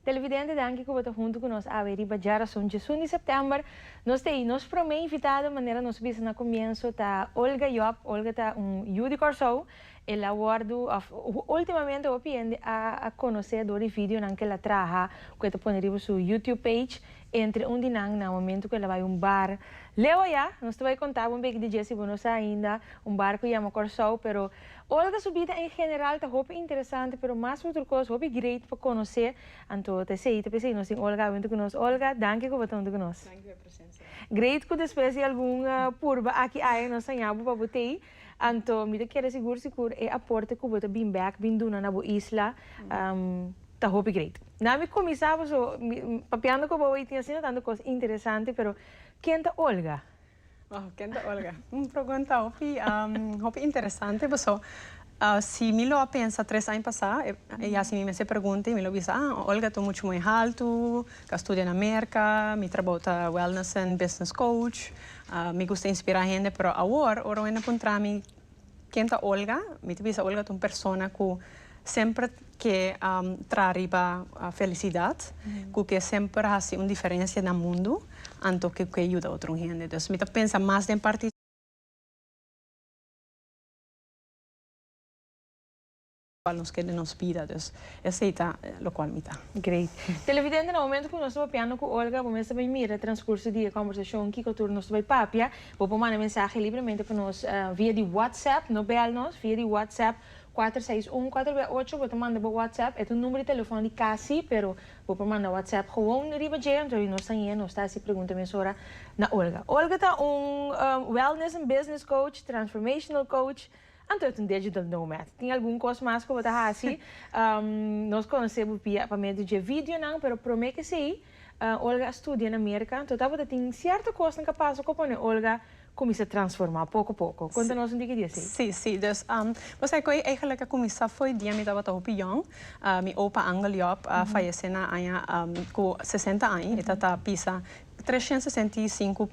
Televidente danki ku bo ta huntu ku nos awe riba Djarason djesun di September. Nos tei nos promé invitado manera nos bisa na komienso ta Olga Job. Olga ta un yu di Kòrsou El a wordu of ultimamente hopi hende a conoce door di videonan que el a traha cu e ta pone riba su YouTube page. Entre un di nan na momento cu el a bay un bar leu aya. Nos ta bay conta bo un beki di dje si bo no sa ainda. Un bar cu yama Corsou pero Olga su bida en general ta hopi interesante pero mas cu otro cos hopi great pa conoce. Anto ta esey ta pesey nos tin Olga awe junto cu nos. Olga danki cu bo ta junto cu nos. Danki pa e presencia. Great cu despues di algun purba aki aya nos saña bo pa bo tey. Anto mi ta kere sigur sikur e aporte ku bo ta bin bèk bin duna na bo isla ta hopi great. Na mi kuminsá bo so mi papiando ku bo hoy tin asina tantu kos interesante pero ken ta Olga? Oh ken ta Olga? Un pregunta hopi hopi interesante paso si mi lo a pensa tres aña pasá e yas mi mes e pregunta i mi lo bisa ah Olga ta muchu moe haltu K'a studia na Merka, mi trabou ta wellness and business coach. Mi gusta inspirá hende, pero awor ora un hende a puntra mi ken ta Olga, mi ta bisa Olga ta un persona ku semper ke traha riba felisidat, ku ke semper hasi un diferensia na mundu anto ku ke yuda otro hende. Dus mi ta pensa mas den parti. Cual nos keda den nos bida, dus esey ta locual mi ta. Great. Televidente, na momento cu nos ta papiando cu Olga, bo mes ta bay mira transcurso di e conversacion kico tur nos ta bay papia. Bo por manda mensahe libremente pa nos via di WhatsApp, no bel nos, via di WhatsApp kuater seis un kuater bia ocho, bo ta manda bo WhatsApp, e ta un number di telefon di casi, pero bo por manda WhatsApp gewoon riba dje, anto awi nos ta hie, nos ta haci pregunta mesora na Olga. Olga ta un Wellness and Business Coach, Transformational Coach, Anto e ta un digital nomad. Tin algun kos mas ku bo ta hasi. Nos konosé bo pia pa medio dje videonan, pero promé k'esei Olga a studia na Merka, anto ta bo ta tin sierto kosnan ka pasa ku a pone Olga kuminsá transformá poko poko. Konta nos un tiki di esei. Sí, sí. Dus, bo sa ku ei eigelik a kuminsá fo'i dia mi tabata hopi yòn. Mi opa Angel Job a fayesé na aña ku sesenta aña. E ta ta pisa tres shent sesenta i sinku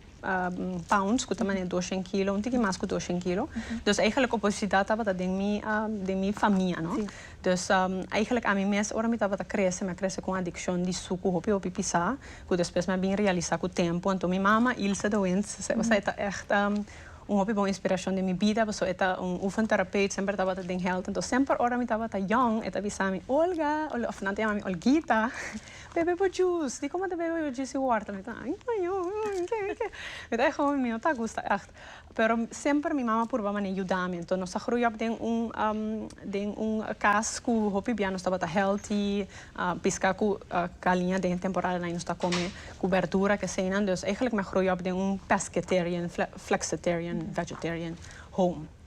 pounds cu ta mane doshen kilo un tiki mas cu doshen kilo dus eigenlijk obesidat tabata den mi den mi famia no dus eigenlijk ami mes ora mi tabata crece mi a crece cu un adiccion di sucu hopi hopi pisa cu despues mi a bin realisa cu tempo anto mi mama Ilse de Windt esaki ta echt un hopi bon inspiracion den mi bida pasobra e ta un oefen terapeut semper tabata den health anto semper ora mi tabata yong e ta bisa mi Olga of nan ta yama mi Olguita. Bebe bo juice. Di como ta bebe bo juice y wortel? Mi ta, ay mayo, ay ke, ay ke. Mi ta e hopi, mi no ta gusta echt. Pero semper mi mama a purba mane yuda mi. Enton nos a groei op den un den un cas cu hopi bia nos tabata healthy, pisca cu caliña den e temporada nan y nos ta come cu berdura, keseynan. Dus eigenlijk mi a groei op den un pescatarian, flexitarian, vegetarian home.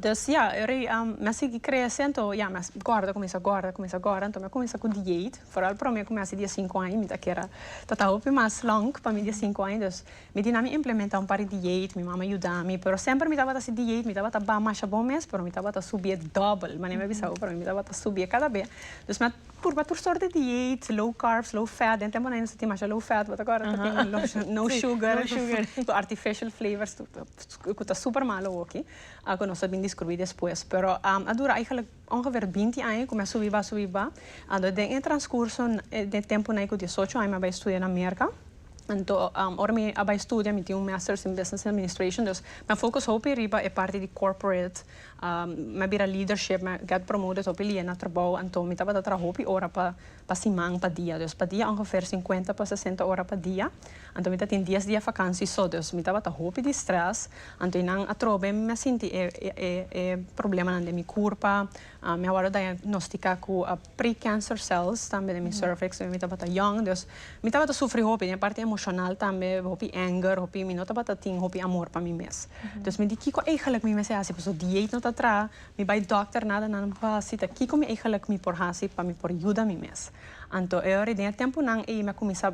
Dus ya, e rei a m'a sigui crece anto ya m'a guarda cu misa guarda cu misa guarda anto m'a cuminsa cu dieit foral pero m'a cuminsa di e cinco aña mi ta kera ta ta hopi mas long pa mi di e cinco aña dus mi di nan mi implementa un par di dieit mi mama yudami pero semper mi tabata hasi dieit mi tabata ba masha bon mes pero mi tabata subi e double mane mi a bisa bo pero mi tabata subi e cada bea dus mi a Purba tur sort di dieet, low carbs, low fat, den temponan e no sa tin masha low fat, bo ta acorda? Ta tin low sugar, no sugar, su artificial flavors cu ta super malo oki, cu nos a bin descubri despues. Pero a dura eigenlijk ongeveer binti aña cu mi a subi ba, subi ba, anto den e transcurso, den tempo cu diesocho aña mi a bay studia na Merca, anto ora mi a bay studia mi tin un masters in business administration, dus mi a focus hopi riba e parti di corporate Mi a bira leadership, mi a get promote dus hopi lia na trabou anto mi tabata traha hopi ora pa pa siman pa dia. Dus pa dia ongeveer sinkuenta pa sesenta ora pa dia. Anto mi ta tin dies dia vakansi so, dus mi tabata hopi di stress. Anto e nan atrobe mi a sinti e problemanan den mi kurpa. Mi a wòrdu diagnostika ku. precancer cells tambe den mi cervix wen mi tabata yong dus mi tabata sufri hopi den e parti emocional tambe hopi anger hopi mi no tabata tin hopi amor pa mi mes dus mi di kico eigenlijk mi mester haci pasobra di dieet no ta traha mi bay doctor nada nada mi por haci ta kico mi eigenlijk mi por haci pa mi por yuda mi mes anto ora den e temponan ey mi a cuminsa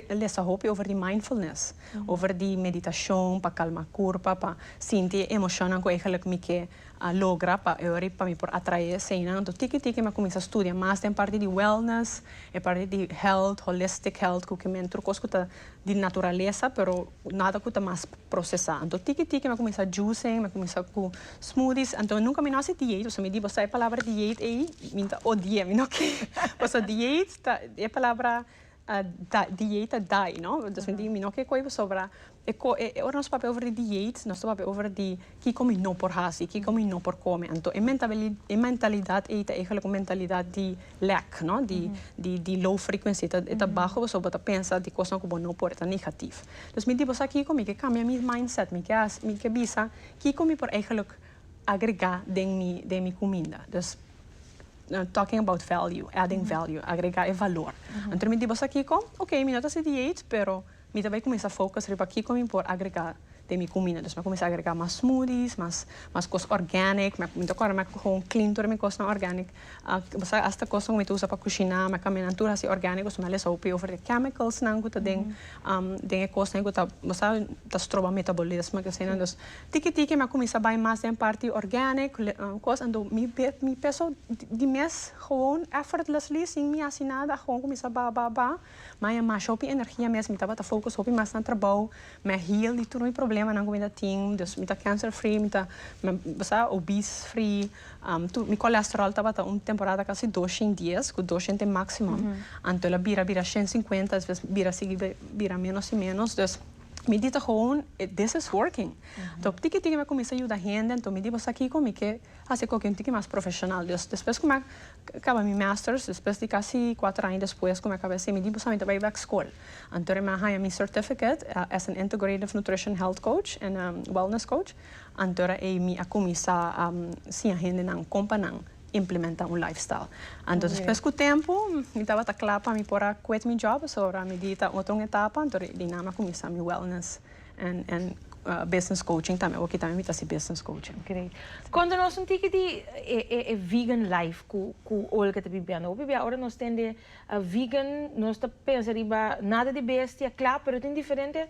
lesa hopi over di mindfulness over di meditacion pa calma curpa pa sinti e emocionnan cu eigenlijk mi ke a logra pa e ora pa mi por atrae eseinan. Anto tiki tiki mi a cuminsa studia mas den parti di wellness, e parti di health, holistic health, cu kimen tur cos cu ta di naturalesa pero nada cu ta mas procesa. Anto tiki tiki mi a cuminsa juicing, mi a cuminsa cu smoothies. Anto nunca mi no a haci dieet, so mi di boso e palabra dieet ey, mi ta odi'e, mi no ke. Pasobra dieet ta, e palabra a dieet a dai no dus me di mi no ke koe bo sobra e ko e ora nos papia over di dieet nos ta papia over di kiko mi no por hasi kiko mi no por kome anto e mentabili e mentalidad ei ta egelik un mentalidad di lack no di di di low frequency ta e ta baho pasobra bo ta pensa di kosnan ku bo no por e ta negativ dus mi di bo sa kiko mi ke kambia mi mindset mi ke hasi mi ke bisa kiko mi por egelik agrega den mi den mi kuminda dus. Talking about value, adding value, agrega e valor. Anto mi di boso kiko, ok, mi no ta hasi diet, pero mi ta bai cuminsa focus riba kiko mi por agrega den mi cumina. Mi a cuminsa agrega mas smoothies, mas cos organic. Mi ta acorda mi a coge un clean tur mi cosnan organic. Bo sa hasta cosnan cu mi ta usa pa cushina, mi a cambia nan tur hasi organico. Mi a lesa hopi over e chemicals nan cu ta den e cosnan cu ta, bo sa, ta stroba metabolismo, esei nan. Dus, Tiki tiki mi a cuminsa bay mas den parti organic cos ando mi mi peso di mes gewoon effortlessly sin mi haci nada a gewoon cuminsa ba ba ba ma e masha hopi energia mes mi tabata focus hopi mas na trabao mi a heal di tur mi problemanan cu mi ta tin dus mi ta cancer free mi ta sa obese free tur mi colesterol tabata un temporada casi doshen dies cu doshen ta e maximum anto el a bira bira shen cincuenta despues bira sigui bira menos y menos dus. Mi di ta gewoon this is working. Anto tiki tiki mi a cuminsa yuda hende anto mi di boso a kico mi ke haci coke un tiki mas profesional. Dus despues cu mi a caba mi masters despues di casi cuater aña despues cu mi a caba esey mi di boso ami ta bay back school. Anto mi a haya mi certificate as an integrative nutrition health coach and wellness coach antora ey mi a cuminsa siña hendenan con pa nan implementa un lifestyle anto despues cu tempo mi tabata cla pa mi por a quit mi job so ahora mi di ta otro un etapa anto di ahí nan mi a cuminsa mi wellness en en business coaching tambe awor kita mi ta haci business coaching. Great. Cuando nos un tiki di e e e vegan life cu cu Olga ta bibiendo awor bibia ora nos tende vegan nos ta pensa riba nada di bestia cla pero tin diferente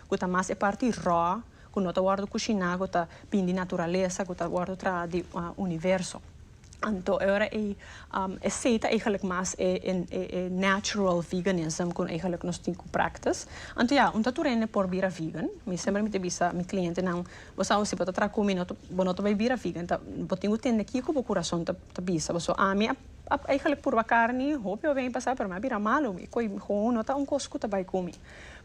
ku ta mas e parti rò, ku no ta wòrdu kushiná, ku ta bin di naturalesa, ku ta wòrdu traha di universo. Anto e ora ei e sei ta eigelik mas e natural veganism ku eigelik nos tin ku practice. Anto ya, un ta tur hende por bira vegan. Mi semper mi ta bisa mi klientenan, bo sa housi bo ta traha ku mi, bo no ta bai bira vegan, ta bo tin ku tende kiko bo kurason ta bisa bo. So ami a eigelik purba karni hopi hopi aña pasá, pero mi a bira malu, mi koe, mi koe no ta un kos ku ta bai ku mi.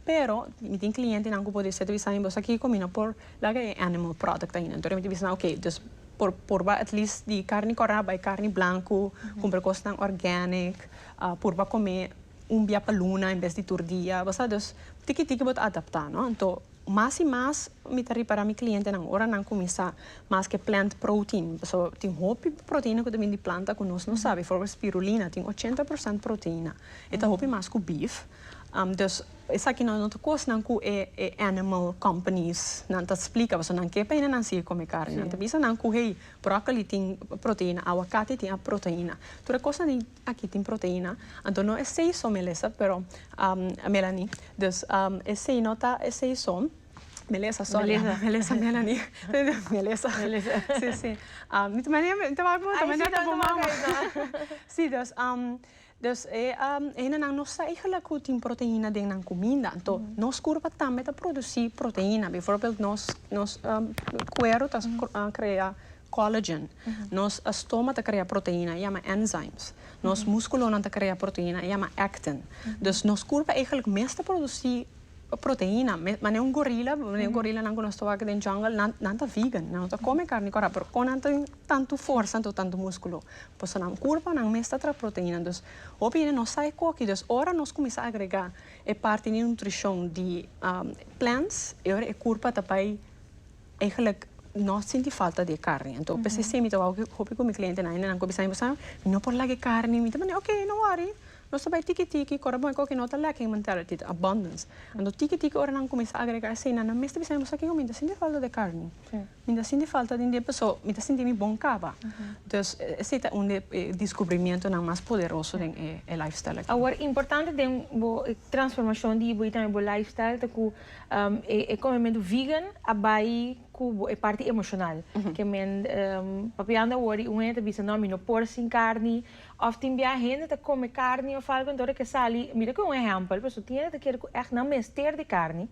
Pero mi tin clientenan cu por dice ta bisa mi boso akico mi no por laga e animal product ain entonces mi ta bisa nan oke dus por purba at least di carni cora bay carni blanco cumpra cosnan organic purba come un bia pa luna en bes di tur dia bo sa dus tiki tiki bo ta adapta no anto mas y mas mi ta repara mi clientenan ora nan cuminsa mas ke plant protein pasobra tin hopi proteina cu ta bini di planta cu nos no sabi bijvoorbeeld spirulina tin ochenta por cent proteina e ta hopi mas cu beef Dus esaki no no ta kosnan ku e e animal companies nan ta splika pasobra nan ke paina nan sigui kome karni. Nan ta bisa nan ku hey brokoli tin proteina, awakati tin proteina. Tur e kosnan di aki tin proteina. Anto no esei so Melissa pero Melanie dus esei no ta esei so Melissa sorry Melissa Melanie Melissa si si mi ta mi ta wak moto me na ta bo mama si dus. Dus e hindanan no sa igla ku tin proteina den nan kuminda. Anto nos kurpa tambe ta produsí proteina. Bivoorbeeld nos nos kuero ta krea collagen. Nos stoma ta krea proteina e yama enzymes. Nos muskulonan ta krea proteina e yama actin. Dus nos kurpa eigelijk mes ta produsí proteina. Manera un gorila, manera un gorilanan ku nos ta wak den jungle nan ta vegan, nan no ta kome karni kora pero kon nan tin Tantu forsa nto tantu muskulo. Boso nan kurpa nan mes ta tra proteina dus hopi hende no sa e koki dus ora nos kuminsá agregá e parti di nutrishon di plants e ora e kurpa ta bai eigenlik no sinti falta di e karni anto p'esei si mi ta wou hopi ku mi klientenan hende nan ku a bisa mi bo sa mi no por laga e karni mi ta mande oke no wòri nos ta bai tiki tiki kòrda bo e koki no ta lacking mentality ta abundance anto tiki tiki ora nan kuminsá agregá esei nan nan mes ta bisa mi bo sa kiko mi ta sinti falta di e karni. Mi ta sinti falta di un dje paso mi ta sinti mi bon kaba. Dus esei ta un di e diskubrimentunan mas poderoso den e lifestyle aki. Awor importante den bo transformashon di bo i tambe bo lifestyle ta ku e komementu vegan a bai ku bo e parti emoshonal. Ke men papiando awor di un hende ta bisa, no mi no por sin karni. Òf tin bia hende ta kome karni òf algu entora ke sali, mira ku e un ehèmpel pasobra tin hende ta kere ku ègt nan mester di karni.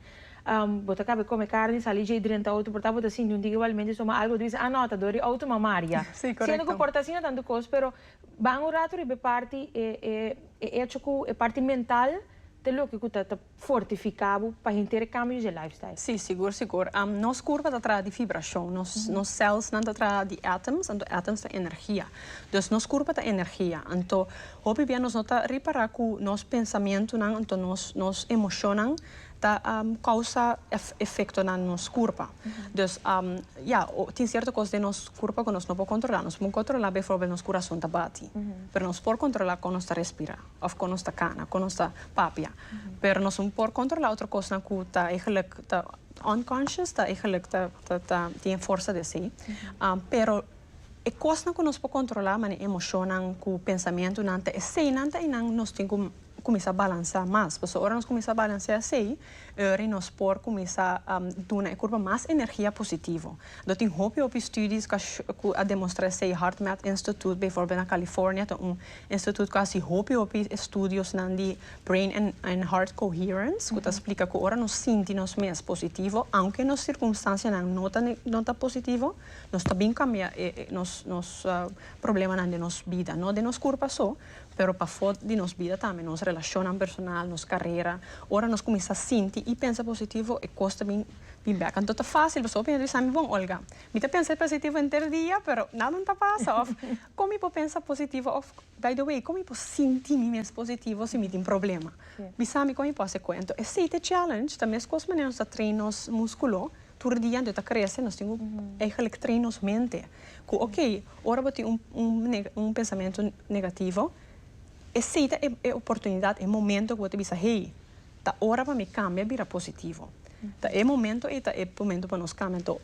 Bo ta cabe come carni, sali dje y drenta auto por ta bo ta sinti un tigre balimente so ma algo ta bisa, ah no, ta dori auto ma Maria. Siendo cu por ta asina tanto cos pero ban un rato riba e parti e e echo cu e parti mental ta loke cu ta ta fortifica bo pa henter e cambios dje lifestyle. Si sigur sigur nos curva ta traha di vibracion nos nos cells nan ta traha di atoms anto atoms ta energia dus nos curva ta energia anto hopi bia nos no ta ripara cu nos pensamientonan anto nos nos emocionnan. ta causa efectonan nos curpa. Dus ya, tin cierto cos den nos curpa cu nos no por controla. Nos por controla bijvoorbeeld nos curason ta bati. Pero nos por controla con nos ta respira, of con nos ta cana, con nos ta papia. Pero nos no por controla otro cosnan cu ta eigenlijk ta unconscious, ta eigenlijk ta ta tin e forsa di esey. Pero e cosnan cu nos por controla, mane emocionnan cu pensamentonan, ta eseynan ta eynan nos tin cu. kuminsá balansá mas. Pasobra ora nos kuminsá balansá esei, oir nos por kuminsá duna e kurpa mas energia positivo. Lo tin hopi hopi studies ku a demostrá esei. HeartMath Institute beivoorbeeld na California ta un instituut ku a hasi hopi hopi estudiosnan di brain and heart coherence ku ta splika ku ora nos sinti nos mes positivo aunke nos sirkunstansianan no ta no ta positivo nos ta bin kambia e nos nos problemanan den nos bida. No den nos kurpa so Pero pafó di nos bida tambe, nos relashonnan personal, nos karera. Ora nos kuminsá sinti i pensa positivo, e kos ta bin di bèk. Anto ta fásil pasobra mi a bisa mi, Bon, Olga, mi ta pensa positivo henter dia, pero nadan ta pasa. Òf, kon mi por pensa positivo? Òf, by the way, kon mi por sinti mi mes positivo si mi tin problema? Bisa mi kon mi por hasi koe. Anto esei ta e challenge, ta meskos manera nos ta train nos múskulo. Tur dia anto e ta krese nos tin ku eigenlijk train nos mente ku ok ora bo tin un un pensamentu negativo esei ta e e oportunidat e momento ku bo ta bisa hey ta ora pa mi kambia bira positivo ta e momento ei ta e momento pa nos kambia anto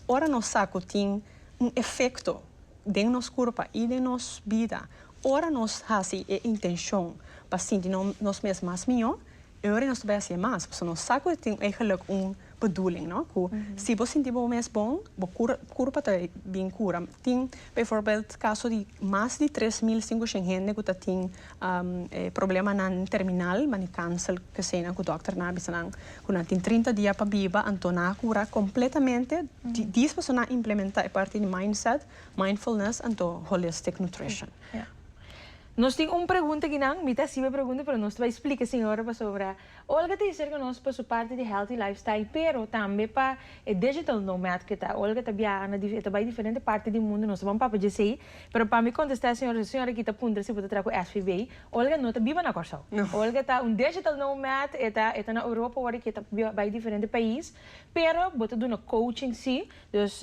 ora nos sa ku tin un efekto den nos kurpa i den nos bida ora nos hasi e intenshon pa sinti nos mes mas mihó e ora nos ta bai hasi e mas pasobra nos sa ku tin eigelik un bedoeling no cu si bo sinti bo mes bon bo cura cura pa ta bin cura tin bijvoorbeeld caso di mas di tres mil cincuciend hende cu ta tin problemanan terminal manera cancer kesenan cu doctor nan a bisa nan cu nan tin trinta dia pa biba anto nan a cura completamente dies pasobra nan a implementa e parti di mindset mindfulness anto holistic nutrition. Nos tin un pregunta aquí nan mi ta hasibe pregunta pero nos ta bay splica sin ora pasobra. Olga ta hiserka nos pa su parti di Healthy Lifestyle pero tambe pa e Digital Nomad ke ta. Olga ta biaha na e ta bai diferente parti di mundu, nos ta ban papa dje esei. Pero pa mi kontestá e señor, e señor aki ta puntra si bo ta traha ku SVB. Olga no ta biba na Kòrsou. Olga ta un Digital Nomad, e ta e ta na Europa wòrdu ke ta bai diferente pais. Pero bo ta duna coaching si, Dus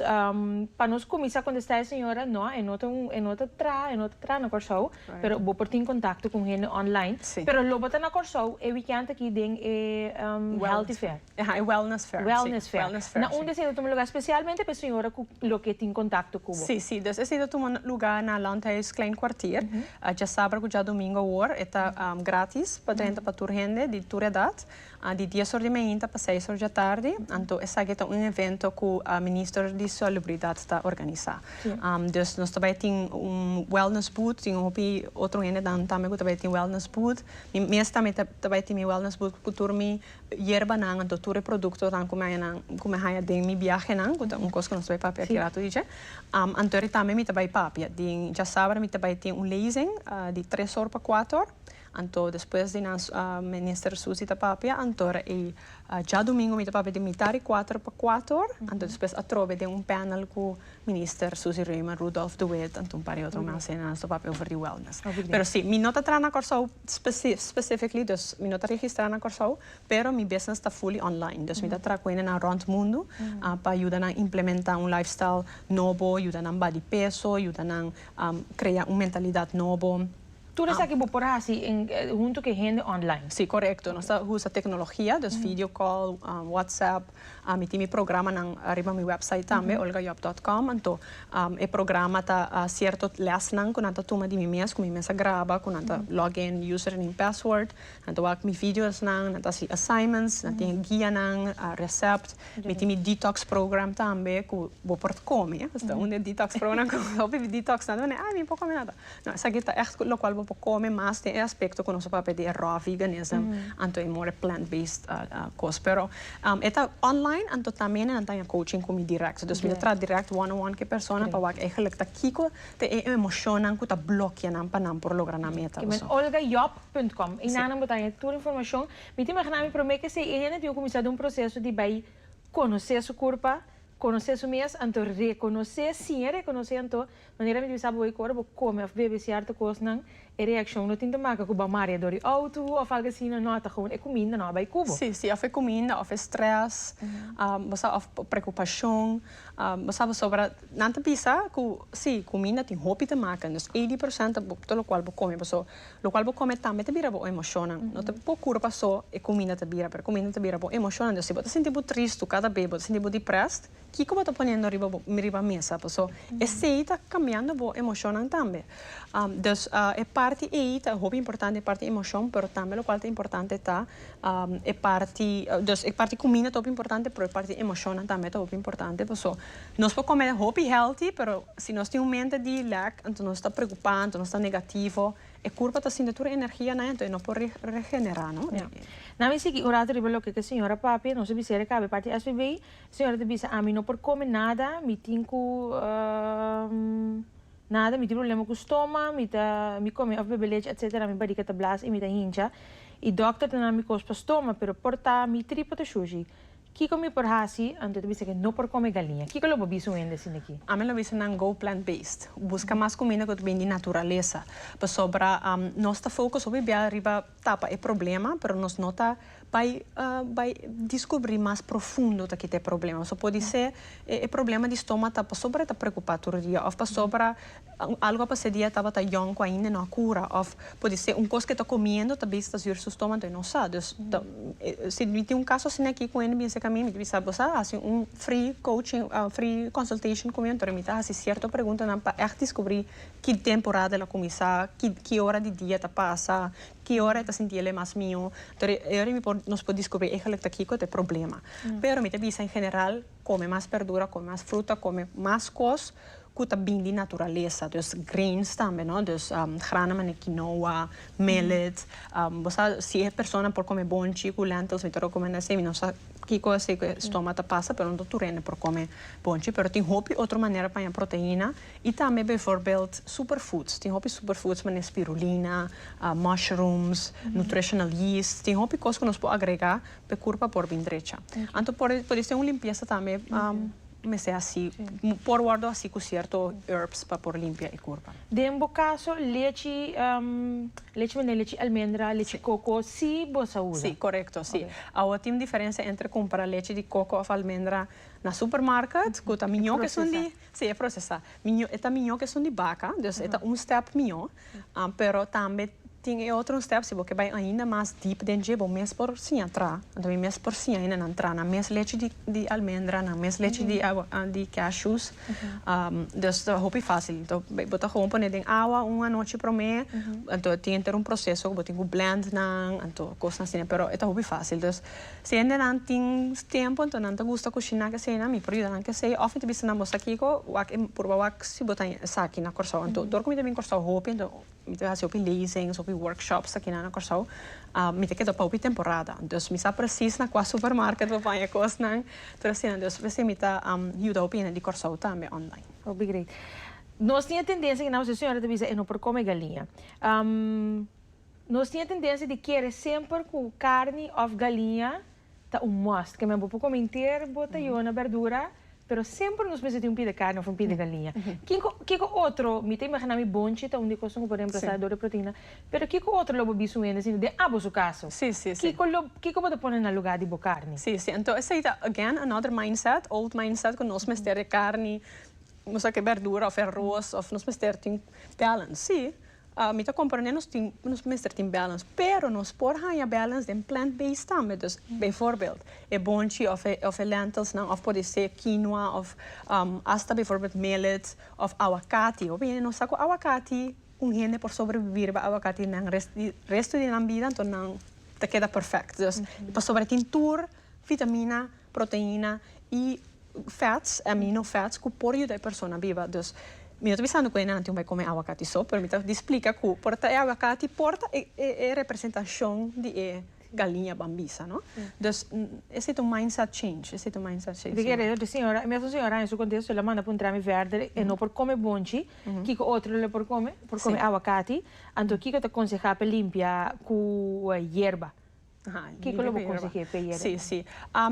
pa nos cuminsa contesta e señora no e no ta e no ta traha e no ta traha na Corsou pero bo por tin contacto con hende online pero lo bo ta na Corsou e weekend aki den e healthy fair aja e wellness fair wellness fair na un di esey ta tuma lugar specialmente pa e señora cu loke tin contacto cu bo. Si si dus esey ta tuma lugar na Landhuis klein kwartier djasaber cu djadomingo awor e ta gratis pa drenta pa tur hende di tur edad a di dies or di mainta pa seis or djatardi, anto esaki ta un evento ku Minister di Salubridat ta organisa. Dus nos ta bai tin un wellness booth, tin un hopi otro hendenan tambe ku ta bai tin wellness booth, mi mes tambe ta bai tin mi wellness booth ku tur mi yerbanan, anto tur e produktonan ku mi hañanan, ku mi haña den mi biahenan, ku ta un kos ku nos ta bai papia aki ratu di dje. Anto tambe mi ta bai papia den djasabra mi ta bai tin un lezing di tres or pa kuater or, Anto despues di nan Minister Susi ta papia antora e djadumingu mi ta papia di mita di kuater pa kuatu or anto despues atrobe den un panel ku Minister Susi Reumer, Rudolf de Wit anto un par di otro mas nan sta papia over di wellness. Pero si mi no ta traha na Kòrsou specifically dus mi no ta registra na Kòrsou pero mi business ta fully online dus mi ta traha ku hende nan rònt mundu pa yuda nan implementa un life style nobo yuda nan bat di peso yuda nan krea un mentalidat nobo. Tur esaki bo por hasi huntu ku e hende online. Si, korekto. Nos ta usa teknologia, dus video call, WhatsApp. Mi tin mi programanan riba mi wèpsait tambe, olgajob dòt kòm. Anto e programa ta sierto lèsnan ku nan ta tuma di mi mes, ku mi mes a graba, ku nan ta log in username, password. Nan ta wak mi videosnan, nan ta hasi assignments, nan tin e guianan, recept. Mi tin mi detox program tambe ku bo por komi. Unda e detox program ku bo por komi, ah mi por komi nada. No, esaki ta ègt lokual bo por kome mas den e aspekto ku nos a papia di e raw veganism anto e more plant based kos. Pero e ta online anto tambe nan ta haña coaching ku mi dirèkt. Dus mi ta traha dirèkt one on one ku e persona pa wak eigelik ta kiko ta e emoshonnan ku ta blokia nan pa nan por logra nan meta. Ki men olgajob punt com. Einan nan bo ta haña tur informashon. Mi ta imaginá mi promé ke esei e hende tin ku kuminsá den un proseso di bai konosé su kurpa, konosé su mes anto rekonosé, siña rekonosé anto Manera mi ta bisa bo hoy ku ora bo kome òf bebe sierto kosnan e reakshon no tin ta maka ku bo marea dor di outo òf algu asina, nò, ta gewoon e kuminda nò a bai ku bo. Sí, sí, òf e kuminda òf e strès, bo sa, òf preokupashon, bo sa pasobra nan ta bisa ku sí, kuminda tin hopi ta maka, nos eighty percent ta bo lo kual bo kome, paso lo kual bo kome tambe ta bira bo emoshonnan, no ta pukuro paso e kuminda ta bira, pero kuminda ta bira bo emoshonnan, dus si bo ta sinti bo trist, tu kada be bo ta sinti bo depressed. Kiko bo ta poniendo riba mesa paso esei ta cambiando bo emocionnan tambe. Dus e parti ei ta hopi importante e parti emocion pero tambe locual ta importante ta e parti dus e parti cuminda ta hopi importante pero e parti emocionnan tambe ta hopi importante paso nos por come hopi healthy pero si nos tin un mente di lack anto nos ta preocupa anto nos ta negativo e curpa ta sinti tur e energia nan anto e no por regenera no. Nan mi sigui un rato riba loke ke señora Papia nos a bisera caba e parti SVB. Señora ta bisa ami no por come nada, mi tin cu nada, mi tin problema cu stoma, mi ta mi come of bebe leche etc. Mi bariga ta blaas y mi ta hincha y doctor ta na mi cos pa stoma pero por ta mi tripa ta shushi kico mi por haci? Anto e ta bisa que no por come galiña. Kico lo bo bisa un hende asina aki? Ami lo bisa nan go plant based, busca mas cuminda cu ta bini di naturalesa pasobra nos ta focus hopi biaha riba. tapa e problema pero nos no ta bai bai descubri mas profundo ta kita e problema so podisé e problema di stoma ta pasobra e ta preocupa tur dia of pasobra algo a pasé di e tabata yong cu ainda no a cura of podisé un cos cu e ta comiendo ta bisa ta sur su stoma entonces no sa dus ta si mi tin un caso asina aki cu hende bensé ca mi mi ta bisa bosa hasi un free coaching free consultation cu mi entonces mi ta hasi cierto preguntanan pa ect descubri ki temporada el a kuminsá, ki ki ora di dia ta pasa, ki ora e ta sinti el e mas mihó. Toer e e ora mi por nos por diskubrí eigenlijk ta kiko ta e problema. Pero mi ta bisa en general kome mas bèrdura, kome mas fruta, kome mas kos ku ta bini di naturalesa. Dus greens tambe, no? Dus grana manera kinoa, millet. Bo sa si e persona por kome bonchi ku lentils mi ta rekomendá esei. Mi no sa kiko esei ku e stoma ta pasa pero no tur hende por kome bonchi. Pero tin hopi otro manera paña proteina I tambe bijvoorbeeld superfoods, tin hopi superfoods manera spirulina, mushrooms, nutritional yeast, tin hopi cos cu nos por agrega pa e curpa por bin drecha. Anto por disco tin un limpieza tambe mester haci, por wordo haci cu cierto herbs pa por limpia e curpa. Den bo caso lechi, lechi manera lechi almendra, lechi coco si bo sa usa? Si, correcto si. Awa tin un diferencia entre cumpra lechi di coco of almendra na supermarket cu ta miño cu esun di. Sí, e procesá. Miñó, e ta miñó cu esun di baca, dus e ta un step miñó. Pero tambe tin e otro step, si bo ke bai ainda mas diep den dje, bo mes por siña tra. Anto mi mes por siña hinda nan tra na mes lechi di, di almendra, na mes lechi di awa, di cashews. dus ta hopi facil. Anto bo ta gewoon pone den awa un anochi promé, anto tin henter un proceso cu bo tin cu blend nan, anto cosnan asina. Pero e ta hopi facil. Dus, Si hendenan tin tempo enton nan ta gusta kushiná ke esei nan mi por yuda nan ke esei òf mi ta bisa nan boso kiko wak e purba wak si bo ta esaki na Kòrsou anto dor ku mi ta bin Kòrsou hopi anto mi ta hasi hopi lezings hopi workshops akina na Kòrsou a mi ta keda pa hopi temporada entos mi sa presis na kua supermarket pa baña kosnan tur asina entos por ese mi ta yuda hopi hende di Kòrsou tambe online. Hopi grei. Nos tin e tendensia ku nan señora ta bisa e no por kome galiña. Nos tin e tendensia di kere semper ku karni òf galiña ta un must. Ke men bo por kome henter, bo ta yona bèrdura, pero semper nos mester tin un pie di karni òf un pie di galiña. Kiko kiko otro, mi ta imaginá mi bonchi ta un di e kos ku por remplasa dor di proteina, pero kiko otro lo bo bisto un hende asina den abo su kaso? Kiko lo kiko bo ta pone na lugá di bo karni? Sí, sí. Anto esei ta again another mindset, old mindset, ku nos mester e karni, nos ta ke bèrdura òf e arroz òf nos mester tin balance. Sí. Mi ta comprende nos tin nos mester tin balance pero nos por haña balance den plant based tambe dus bijvoorbeeld e bonchi of of e lentils nan of por ser quinoa of hasta bijvoorbeeld millet of aguacati hopi hende no sa cu aguacati un hende por sobrevivi riba aguacati nan resto di nan bida enton nan ta keda perfect dus pasobra tin tur vitamina, proteina y fats, amino fats, cu por yuda e persona biba. Dus mi no ta bisando cu henanti un bay come aguacati so, pero mi ta di splica cu por ta e aguacati, por ta e e representacion di e galiña bambisa, no? Dus esta ta un mindset change, esta ta un mindset change. Di kere otro señora, e mesmo señora en su contesto el a manda pa un trami verde, e no por come bonchi, kico otro lo por come? Por come aguacati, anto kico ta conseha pa limpia cu hierba? Kiko lo bo konseh'é p'e yere? Sí, sí.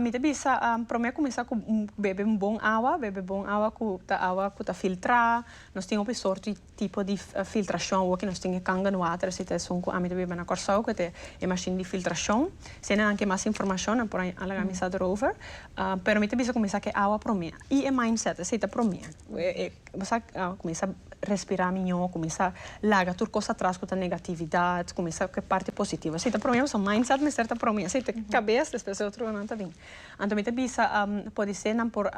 Mi ta bisa, promé kuminsá ku bebe un bon awa, bebe bon awa ku ta awa ku ta filtrá. Nos tin hopi sort di tipo di filtrashon awor, nos tin e kangen water esei ta esun ku ami ta biba na Kòrsou ku ta e mashin di filtrashon. Si ene nan ke mas informashon nan por alga mi sa dorover. Pero mi ta bisa kuminsá ku e awa promé. Y e mindset esey ta promé. Bo sa cuminsa respira miño, cuminsa laga tur cos atras cu ta negatividad, cuminsa cu e parti positivo. Esey ta promé, pasobra mindset mester ta promé. Esey ta cabes, despues e otro cosnan ta bini. Anto mi ta bisa podisé nan por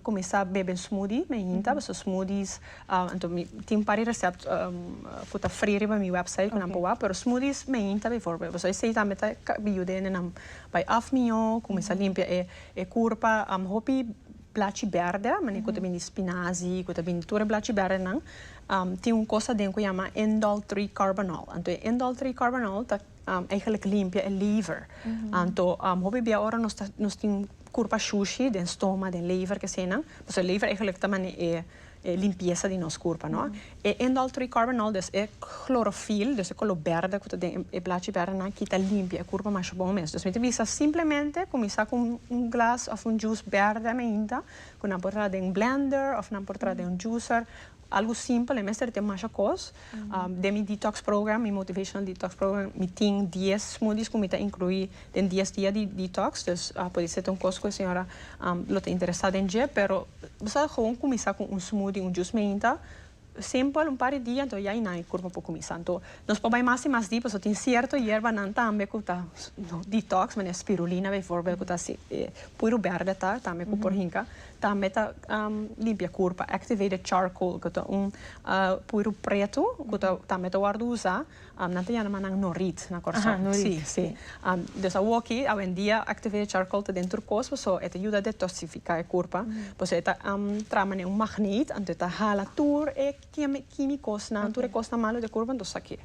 cuminsa bebe smoothie na e hinta, pasobra smoothies, anto mi tin un par di recept cu ta free riba mi website cu nan por wak, pero smoothies na e hinta, bivoorbeeld, pasobra esey tambe ta yuda nenan bay af miño, cuminsa limpia e. E kurpa am hopi blachi berde a manera ku ta bini spinazi ku ta bini tur e blachi berde nan tin un kos aden ku yama indol tri karbonol anto e indol tri karbonol ta eigenlijk limpia e liver anto hopi bia ora nos ta nos tin kurpa shushi den stoma den liver ke asina pasobra liver ta mane'e e limpiesa di nos kurpa no e indol tri karbonol dus e klorofil dus e kolor berde ku ta den e blachi berde nan kita limpia e kurpa masha bon mes dus mi ta bisa simplemente kuminsá ku un glas òf un jus berde mainta ku nan por traha den blender òf nan por traha den un juser algu simpel nan mester tin masha kos Den mi detox program, mi motivational detox program, mi tin dies smoothies cu mi ta inclui den dies dia di detox. Dus a pudi ser ta un cos cu e señora lo ta interesa den dje. Pero bo sa gewoon cuminsa cu un smoothie, un juice meinta, simpel, un par di dia anto ya y nan e curpa por cuminsa. Anto nos por bay mas y mas diepe, tin cierto yerbanan tambe cu ta detox, manera spirulina bijvoorbeeld, cu ta asi, puro berde ta, tambe cu por hinca. Tambe ta limpia kur pa activated charcoal ku ta un puru pretu ku ta tambe ta wòrdu usá nan ta yana mas nan norit na Kòrsou. Aha, norit. Sí, sí. Des awoki awendia activated charcoal ta den tur kos paso e ta yuda a detosifiká e kurpa paso e ta traha manera un magnit anto e ta hala tur e kímikosnan tur e kosnan malu di e kurpa anto sa ke.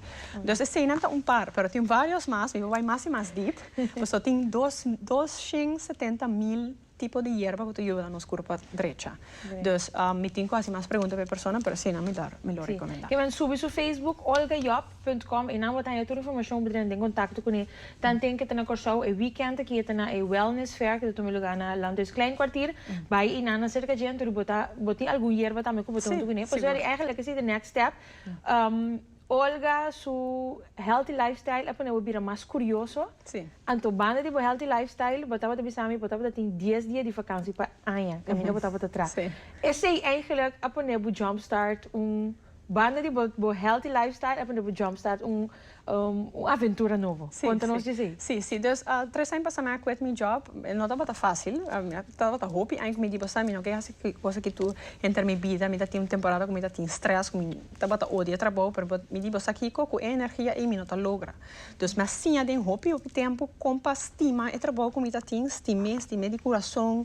Des eseinan ta un par pero tin vários mas mi bai mas i mas dip paso tin dos dos shen setenta mil tipo di yerba cu ta yuda nos curpa drecha. Dus mi tin cu haci mas pregunta pa e persona pero asina mi lo mi lo recomenda. Kiman subi su Facebook Olga Job punt com y nan bo ta haya tur informacion bo dren den contacto cu ne. Tanten ke ta na Corsou e weekend aki e ta na e wellness fair ke ta tuma lugar na Landhuis Klein Kwartier. Bay y nan na cerca djen tur y bo ta bo tin algun yerba tambe cu bo ta huntu cu ne. Por eso eri eigenlijk esi de next step. Olga su healthy lifestyle a ponebo bira mas curioso, anto banda di bo healthy lifestyle bo tabata bisa mi bo tabata tin dies dia di vakansi pa aña caminda bo tabata tra. Esey eigenlijk a pone bo jump start un banda di bo healthy lifestyle a pone bo jump start un un aventura nobo. Conta nos di esey. Si si dus tres aña pasa mi a quit mi job no tabata facil tabata hopi aña cu mi di bisa mi no ke hasi ki cosa ki tur enter mi bida mi ta tin un temporada cu mi ta tin stress cu mi. Tabata odia trabou, pero bo di bo sa kiko, ku e energia ei mi no ta logra. Dus mi a siña den hopi hopi tempu kon pa stima e trabou ku mi ta tin, stim'é, stim'é di kurason,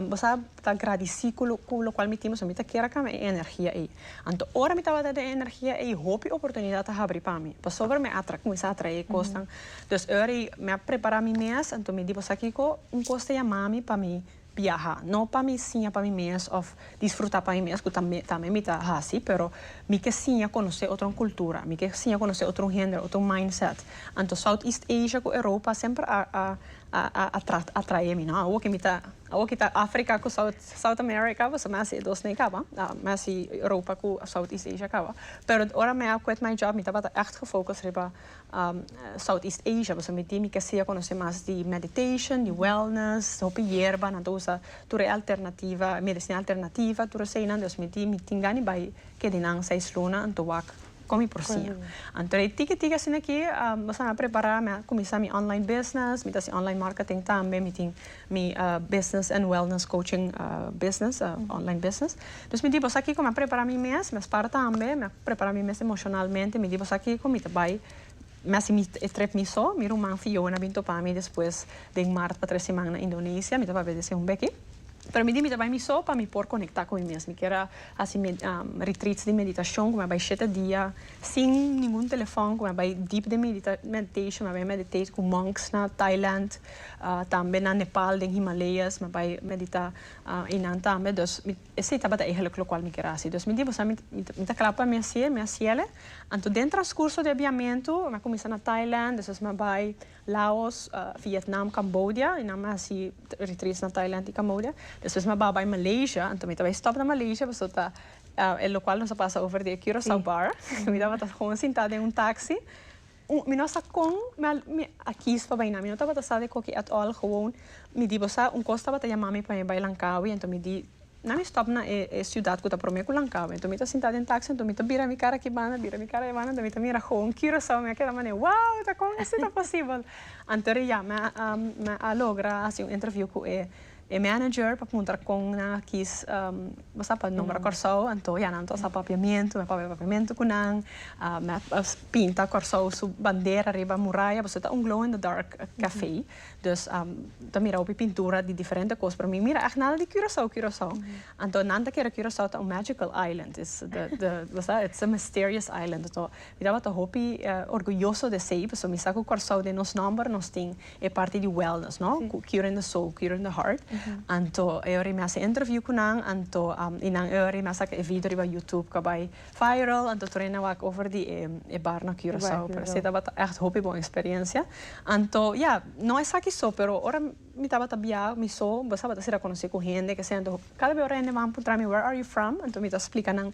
bo sa, ta gradisí ku lo ku lokual mi tin, pasobra mi ta kier a kamba e energia ei. Anto ora mi tabata den e energia ei, hopi oportunidat a habri pa mi, pasobra mi a kuminsá a traé e kosnan. Dus e ora ei mi a prepará mi mes, anto mi di bo sa kiko, un kos ta yamami pa mi. biaha, no pa mi siña pa mi mes of disfruta pa mi mes cu tambe tambe mi ta haci pero mi ke siña conoce otro cultura mi ke siña conoce otro hende otro mindset anto south east asia cu europa semper a a a a a atrae mi no awo ke mi ta awo ke ta africa cu south south america boso me a haci e dos ne caba me a haci europa cu south east asia caba pero ora me a quit my job mi tabata echt gefocus riba South East Asia boso miti mi ke sea conoce mas di meditation di wellness hopi yerba nan ta usa tur e alternativa medicina alternativa tur esey nan dus miti mi tin gana di bay kedi nan seis luna anto wak con mi por cia anto de tiki tiki asina aki boso a prepara mi a cuminsa mi online business mi ta haci online marketing tambe mi tin Mi a business and wellness coaching business, a online business. Dus mi di bosa kiko mi a prepara mi mes, mi a spar tambe, mi a prepara mi mes emocionalmente, mi di bosa kiko mi ta bai mi a simi e trip mi so, mi ruman Fiona a bin topa mi despues den mart pa tres siman na Indonesia, mi ta papia di haci un beki, pero mi di mi ta bai mi so pa mi por conecta cu mi mes, mi kier a haci me retreats di meditacion cu mi a bai shete dia sin ningun telefon cu mi a bai deep den meditation, mi a bai meditate cu monks na Thailand. Tambe na Nepal den Himalayas mi a bai medita einan tambe dos esey tabata eigenlijk locual mi kier a haci dos mi di bosa mi ta cla pa mi hacié mi haciele anto den transcurso di e biamento mi a cuminsa na Thailand despues mi a bai Laos Vietnam Cambodia einan mi a haci retreats na Thailand y Cambodia despues mi a babai Malaysia anto mi ta bai stop na Malaysia pasobra ta e locual nos a pasa over di e Curacao bar mi tabata sinta den un taxi Mi no sa con mi mi a kies pa bai nan. Mi no tabata sa de coki at all. Gewoon mi di bo sa un cos tabata yama mi pa mi bai Langkawi. Enton mi di na mi stop na e e ciudad cu ta prome cu Langkawi. Enton mi ta sinta den taxi enton mi ta bira mi cara aki banda bira mi cara ebanda enton mi ta mira gewoon Curacao. Mi a keda manera wow ta con asi ta posibel. Anto di ya mi a mi a logra haci un interview cu e E manager pa puntra kon nan a kis bo sa pa nombra Kòrsou anto ya nan ta sa papiamentu mè papia papiamentu ku nan mè pinta Kòrsou su bandera riba muraya boso ta un glow in the dark kafé dus ta mira hopi pintura di diferente kos pero mi mira èk nada di Curaçao Curaçao anto nan ta kere Curaçao ta un magical island is bo sa its a mysterious island anto mi tabata hopi orguyoso di esei pasobra mi sa ku Kòrsou den nos nòmber nos tin e parti di wellness no cu curing the soul curing the heart anto e ora y mi a haci interview cu nan anto y nan e ora y mi a saca e video riba youtube cu a bay viral anto tur ene a wak over di e bar na Curaçao pero esey tabata echt hopi bon experiencia anto ya no esaki so pero ora mi tabata bia mi so mi sabata si reconoce cu hende que esey anto cada be ora hende wou puntra mi where are you from anto mi ta splica nan.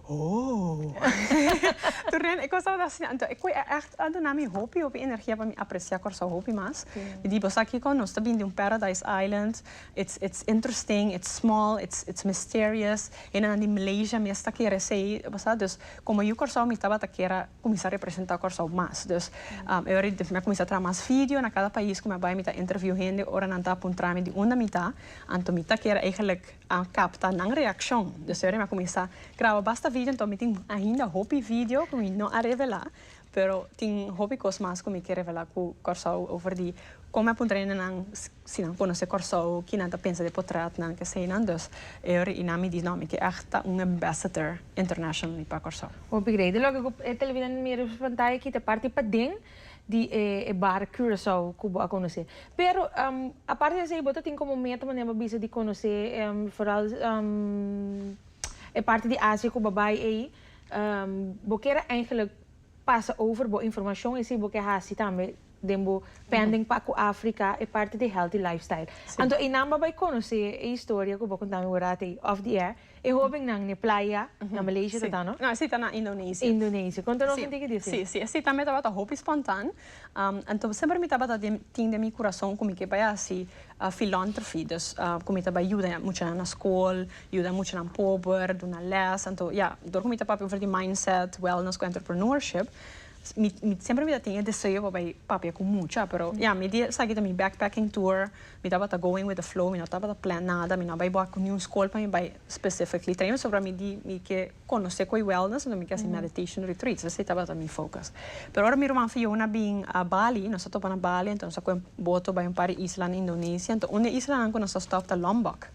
Oh! Tur den e cos tabata asina. Anto e cu e echt a duna mi hopi, hopi energia pa mi aprecia Curaçao hopi mas. Mi di boso akico nos ta bin di un paradise island. It's, it's interesting, it's small, it's, it's mysterious. Hendenan di Malaysia mes ta kere esey, bo sa. Dus, como yu Curaçao mi tabata kier a cuminsa representa Curaçao mas. Dus, e ora di mi a cuminsa traha mas video na cada pais cu mi a bay, mi ta interview hende ora nan ta puntra mi di unda mi ta. Anto mi ta kier eigenlijk. a capta nan reaccion. Dus ora mi a cuminsa graba basta video anto mi tin ainda hopi video cu mi no a revela pero tin hopi cos mas cu mi ke revela cu Corsou over di con mi a puntra ene nan si nan conoce Corsou ki nan ta pensa di e potretnan keseyinan dus e ora y nan mi di no mi ke echt ta un ambassador internationally pa Corsou. Hopi greda loke cu e televidente mira nos pantaya ki ta parti paden. di e bar Curaçao cu bo a conoce. Pero aparte di esey bo ta tin como meta manera bo bisa di conoce foral e parti di Asia cu bo a bay ey. Bo kier a eindelijk pasa over bo informacion esey bo ke haci tambe den bo pending pa cu Africa e parti di healthy lifestyle. Anto eynan bo a bay conoce e historia cu bo a conta mi borad ey off the air. E hobennan n'e playa, na Malesia ta ta no? No, esei ta na Indonesia. Indonesia. Con ta nos sinti ki dificil? Si, si, esei tambe tabata hopi spontan. Anto semper mi tabata tin den mi curason cu mi ke bai haci filantrophy, dus cu mi ta bai yuda muchanan na scol, yuda muchanan pober, duna les. Anto ya, dor cu mi ta papia over di mindset, wellness cu entrepreneurship, mi semper mi ta tin e deseo pa bai papia cu mucha. Pero ya, mi di esaki ta mi backpacking tour, Mi tabata going with the flow, mi no tabata plan nada, mi no a bai bor cu niun scol pa mi bai specifically train, pasobra mi di mi ke conoce coi wellness, entonces mi ke haci meditation retreats, esey tabata mi focus. Pero ora mi ruman Fiona bin a Bali, nos a topa na Bali, entonces nos a coge boto bai un par di isla na Indonesia, entonces un di islanan cu nos a stop ta Lombok,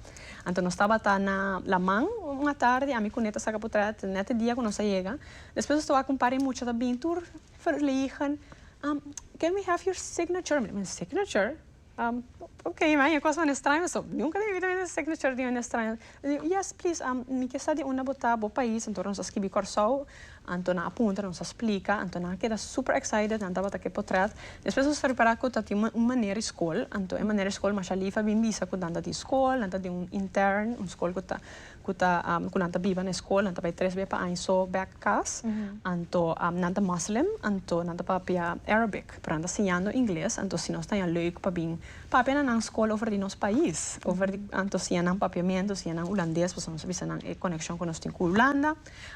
anto nos tabata na laman un atardi, ami cu Neta saca potret, net e dia cu nos a yega, despues nos topa cu un par di mucha ta bin tur verlegen, can we have your signature? Mi di, signature? am ok ma e cos nan estraño so nunca den mi vida mi ta seki no cier di hende estraño yes please am mi ke sa di unda bo ta bo pais anto nan sa skibi Kòrsou anto nan a puntra nan sa splika anto nan a keda super excited nan tabata ke potret despues nos ta repara ku ta tin un manera di skol anto e manera di skol masha Lief a bin bisa ku nan ta tin skol nan ta tin un intern un skol ku ta cu ta cu nan ta biba na e school nan ta bay tres bey pa aña so bek cas anto nan ta Muslim anto nan ta papia Arabic pero nan ta siñando Ingles anto si nos ta ya leuk pa bin papia na nan school over di nos pais over di anto siña nan papiamento siña nan Hulandes pasobra nos a bisa nan e coneccion cu nos tin cu Hulanda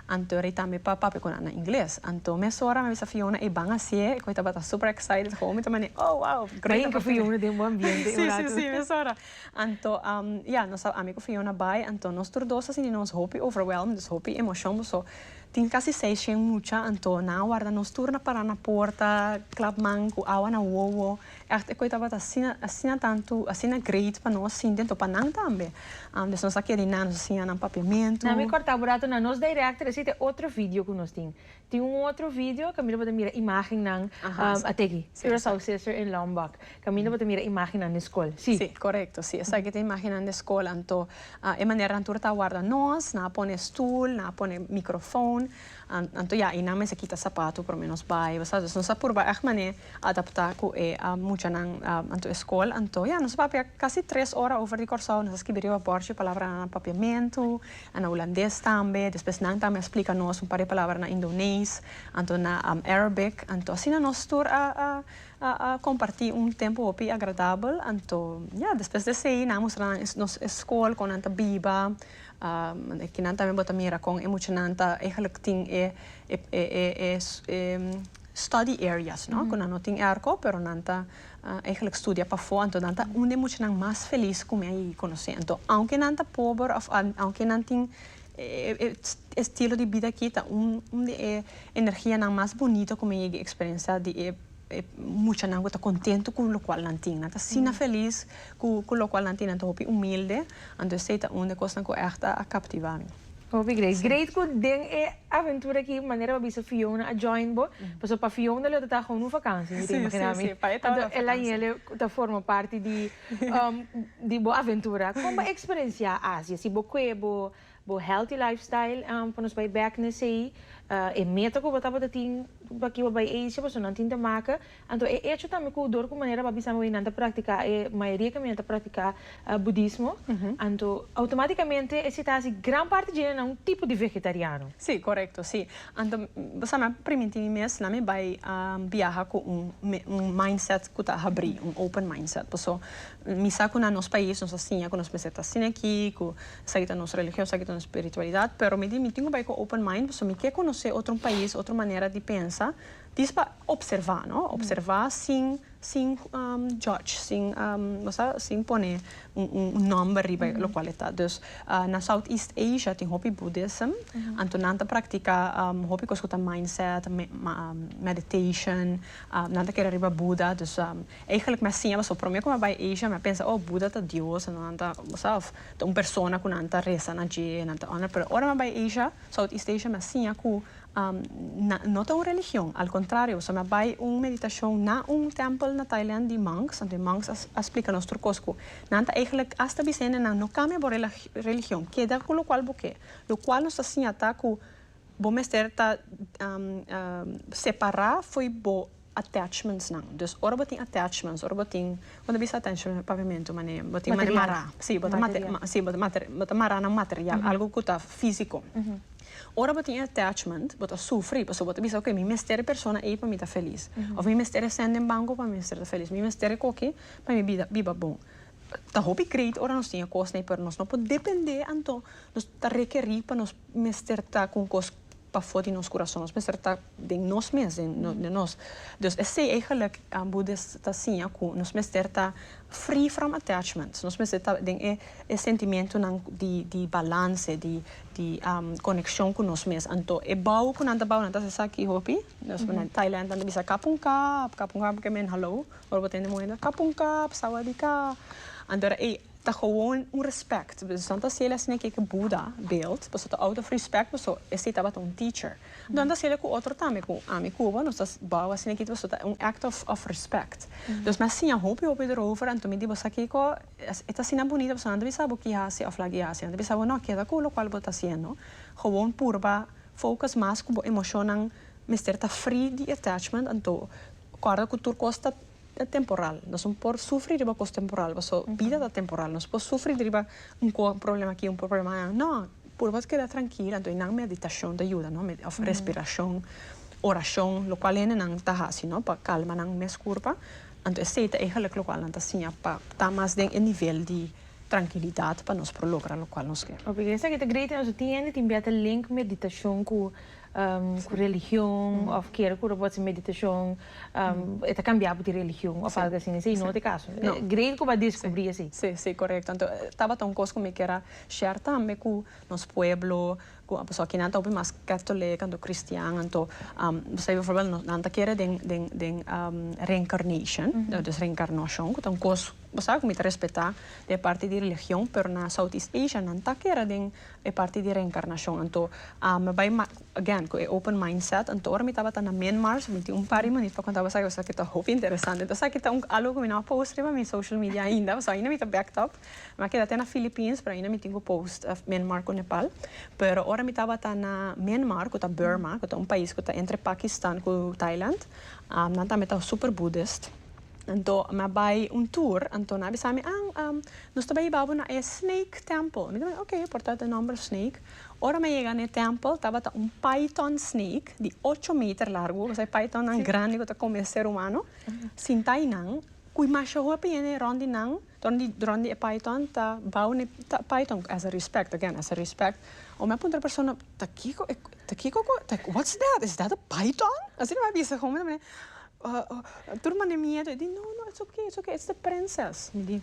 anto rei tambe pa papia cu nan na Ingles anto mesora mi a bisa Fiona e ban asie e coge tabata super excited gou mi ta mane oh wow great opportunity si si si mesora. Anto ya, nos a ami cu Fiona bay, anto nos tur dos a sini nos hopi overwhelmed, dus hopi emocion, boso tin casi seis shen mucha, anto nan a warda nos tur na para na porta, clap man cu awa na wowo, echt e coe tabata asina, asina tanto, asina great pa nos sinti, anto pa nan tambe, dus nos a keri nan, nos a siña nan papiamentu. Nan mi corta bo rato, na nos directory, esey ta e otro video cu nos tin, Tin un otro video caminda bo ta mira imagennan ateki Curaçao Sister in Lombok caminda bo ta mira imagennan den school. Sí. Sí, correcto. Sí, esaki ta imagennan den school anto e manera nan tur ta warda nos, nan a pone stoel, nan a pone microfoon, anto ya ayinan mester kita sapato prome nos bay, bo sa. Dus nos a purba echt mane adapta cu e muchanan anto e school anto ya nos a papia casi tres ora over di Curaçao, nos a skibi riba borchi palabranan papiamento, a na Hulandes tambe, despues nan tambe a splica nos un par di palabra na Indonees, anto na Arabic, anto asina nos tur a a a comparti un tempo hopi agradabel, anto ya despues desey nan a mustra nan nos e school con nan ta biba, aki nan tambe bo ta mira con e muchanan ta eigenlijk tin e e e e e study areas no cu nan no tin airco pero nan ta. Eigenlijk studia pafó anto nan ta un den muchanan mas felis ku mi a yegi konosé. Anto aunke nan ta pober òf aunke nan tin e estilo di bida aki ta un un di e energianan mas bonito ku mi a yegi eksperensiá di e muchanan ku ta kontentu ku lokual nan tin. Nan ta asina felis ku lokual nan tin, nan ta hopi humilde, anto esei ta un di e kosnan ku ègt a kaptivá mi. Hopi great. Great cu den e aventura aki manera bo a bisa Fiona a join bo, pasobra pa Fiona lo ta ta gewoon un vakantie, mi ta imagina mi. Anto el a yele ta forma parti di di bo aventura. Con bo experencia Asia? Si bo cue bo bo healthy lifestyle pa nos bay back na esey, e meta cu bo tabata tin paki bo bay Asia, pasobra nan tin ta maca. Anto e echo tambe ku dor ku manera bo a bisa mi nan ta praktiká e mayoria ku mi nan ta praktiká budismo, anto outomatikamente e sita hasi gran parti dje nan na un tipo di vegetariano. Sí, korekto, sí. Anto bo sa mi a primintí mi mes la mi bai biaha ku un un mindset ku ta habrí, un open mindset. Paso mi sa ku na nos pais nos a siña ku nos mester ta asina aki, ku esaki ta nos religion, esaki ta nos spiritualidad, pero mi di mi tin ku bai ku open mind paso mi ke konosé otro pais, otro manera di pensa. Dis pa observa no observa sin sin judge sin bosa sin pone un number riba lo cual e ta dus na south east asia tin hopi buddhism anto nan ta practica hopi cos cu ta mindset meditation nan ta kere riba buda dus eigenlic mi a siña pasobra prome cu mi a bay asia mi a pensa oh buda ta dios entonces nan ta bosa of ta un persona cu nan ta resa na dje nan ta honra pero ora mi a bay asia south east asia mi a siña cu No ta un religion, al contrario, so na bay un meditacion na un tempel na Thailand di monks, anto e monks a splica nos tur cos cu nan ta eigenlic hasta bisende nan no cambia bo religion, keda cu locual bo ke, locual nos ta siña ta cu bo mester ta separa fo'i bo attachmentsnan dus ora bo tin attachments ora bo tin bo ta bisa attachments na papiamentu mane bo tin mane mará si bo ta si bo ta mará nan material algu ku ta físiko ora bo tin e attachment bo ta sufri pasobra bo ta bisa okay mi mester e persona ei pa mi ta felis òf mi mester e sèn den banko pa mi mester ta felis mi mester e koki pa mi bida biba bon ta hopi great ora nos tin e kosnan ei pero nos no por depende anto nos ta rekerí pa nos mester ta ku un kos pafó di nos kurason. Nos mester ta den nos mes, den nos. Dus esei eigenlik Budis ta siña ku nos mester ta free from attachments. Nos mester ta den e sentimentunan di di balanse, di di konekshon ku nos mes. Anto e bou ku nan ta bou nan ta hasi esaki hopi. Nos na Thailand nan ta bisa kap un kap, kap un kap, porque men hallo, ora bo tende muhé nan kap un kap, sawadi ka. Anto era ei Ta gewoon un respect. Boso san ta haciel asina e keke Buda beeld. Boso ta out of respect boso esey tabata un teacher. Nan ta haciele cu otro tambe cu ami cu bo nos ta bao asina aki boso ta un act of of respect. Dos mi a siña hopi hopi erover anto mi di boso sa kico e ta asina bonita boso nan ta bisa bo ki haci of la ki haci nan ta bisa bo no keda cu locual bo ta haciendo gewoon purba focus mas cu bo emocionnan mester ta free di attachment anto cuarda cu tur cos ta ta temporal nos no por sufri riba cos temporal paso bida ta temporal nos no por sufri riba un problema aki un problema allá no puru pa keda trankil anto nan meditacion ta yuda no of respiracion oracion lo cual hende nan ta haci no pa calma nan mes curpa anto esey ta egelik lo cual nan ta siña pa ta mas den e nivel di trankilidad pa nos por logra lo cual nos ker. Oke esaki ta great nos tin hende tin bia ta link meditacion cu ku religion of kier ku robot sin meditashon e ta kambiá di religion of algu asin esei no te kaso great ku bo a deskubrí esei. Si si korekto anto tabata un kos ku mi kera share tambe ku nos pueblo ku a pasó kinan ta hopi mas katolik anto kristian anto bo sabi befòrbèl nan ta kere den den den reincarnation dus reinkarnashon ku ta un kos bo sabi ku mi ta respetá di e parti di religion pero na southeast asia nan ta kere den E parti di reencarnacion anto a mi bay again cu e open mind set anto ora mi tabata na Myanmar so mi tin un par di manera pa conta boso ayuda esaki ta hopi interesante entonces esaki ta algo cu mi no a post riba mi social media ainda pasobra ainda mi ta backed up mi a keda te na Philippines pero ainda mi tin cu post Myanmar cu Nepal pero ora mi tabata na Myanmar cu ta Burma cu ta un pais cu ta entre Pakistan cu Thailand nan tambe ta super Buddhist anto mi a bay un tour anto nan a bisami ah Nos ta bai hiba bo na e Snake Temple. Mi ta mira, ok, por ta den nomber Snake. Ora mi a yega na e Temple, tabata un Python Snake di ocho meter largu, esei Pythonnan grandi ku ta kome ser humano, sinta einan, ku masha hopi hende rond di nan, rond di rond di e Python ta bou n'e Python as a respect, again, as a respect. Ora mi a puntra e persona, ta kiko e, ta kiko ku, what's that? Is that a Python? Asina mi a bisa hopi, tur mane miedu. E di, no, no, it's ok, it's ok, it's the Princess, mi di.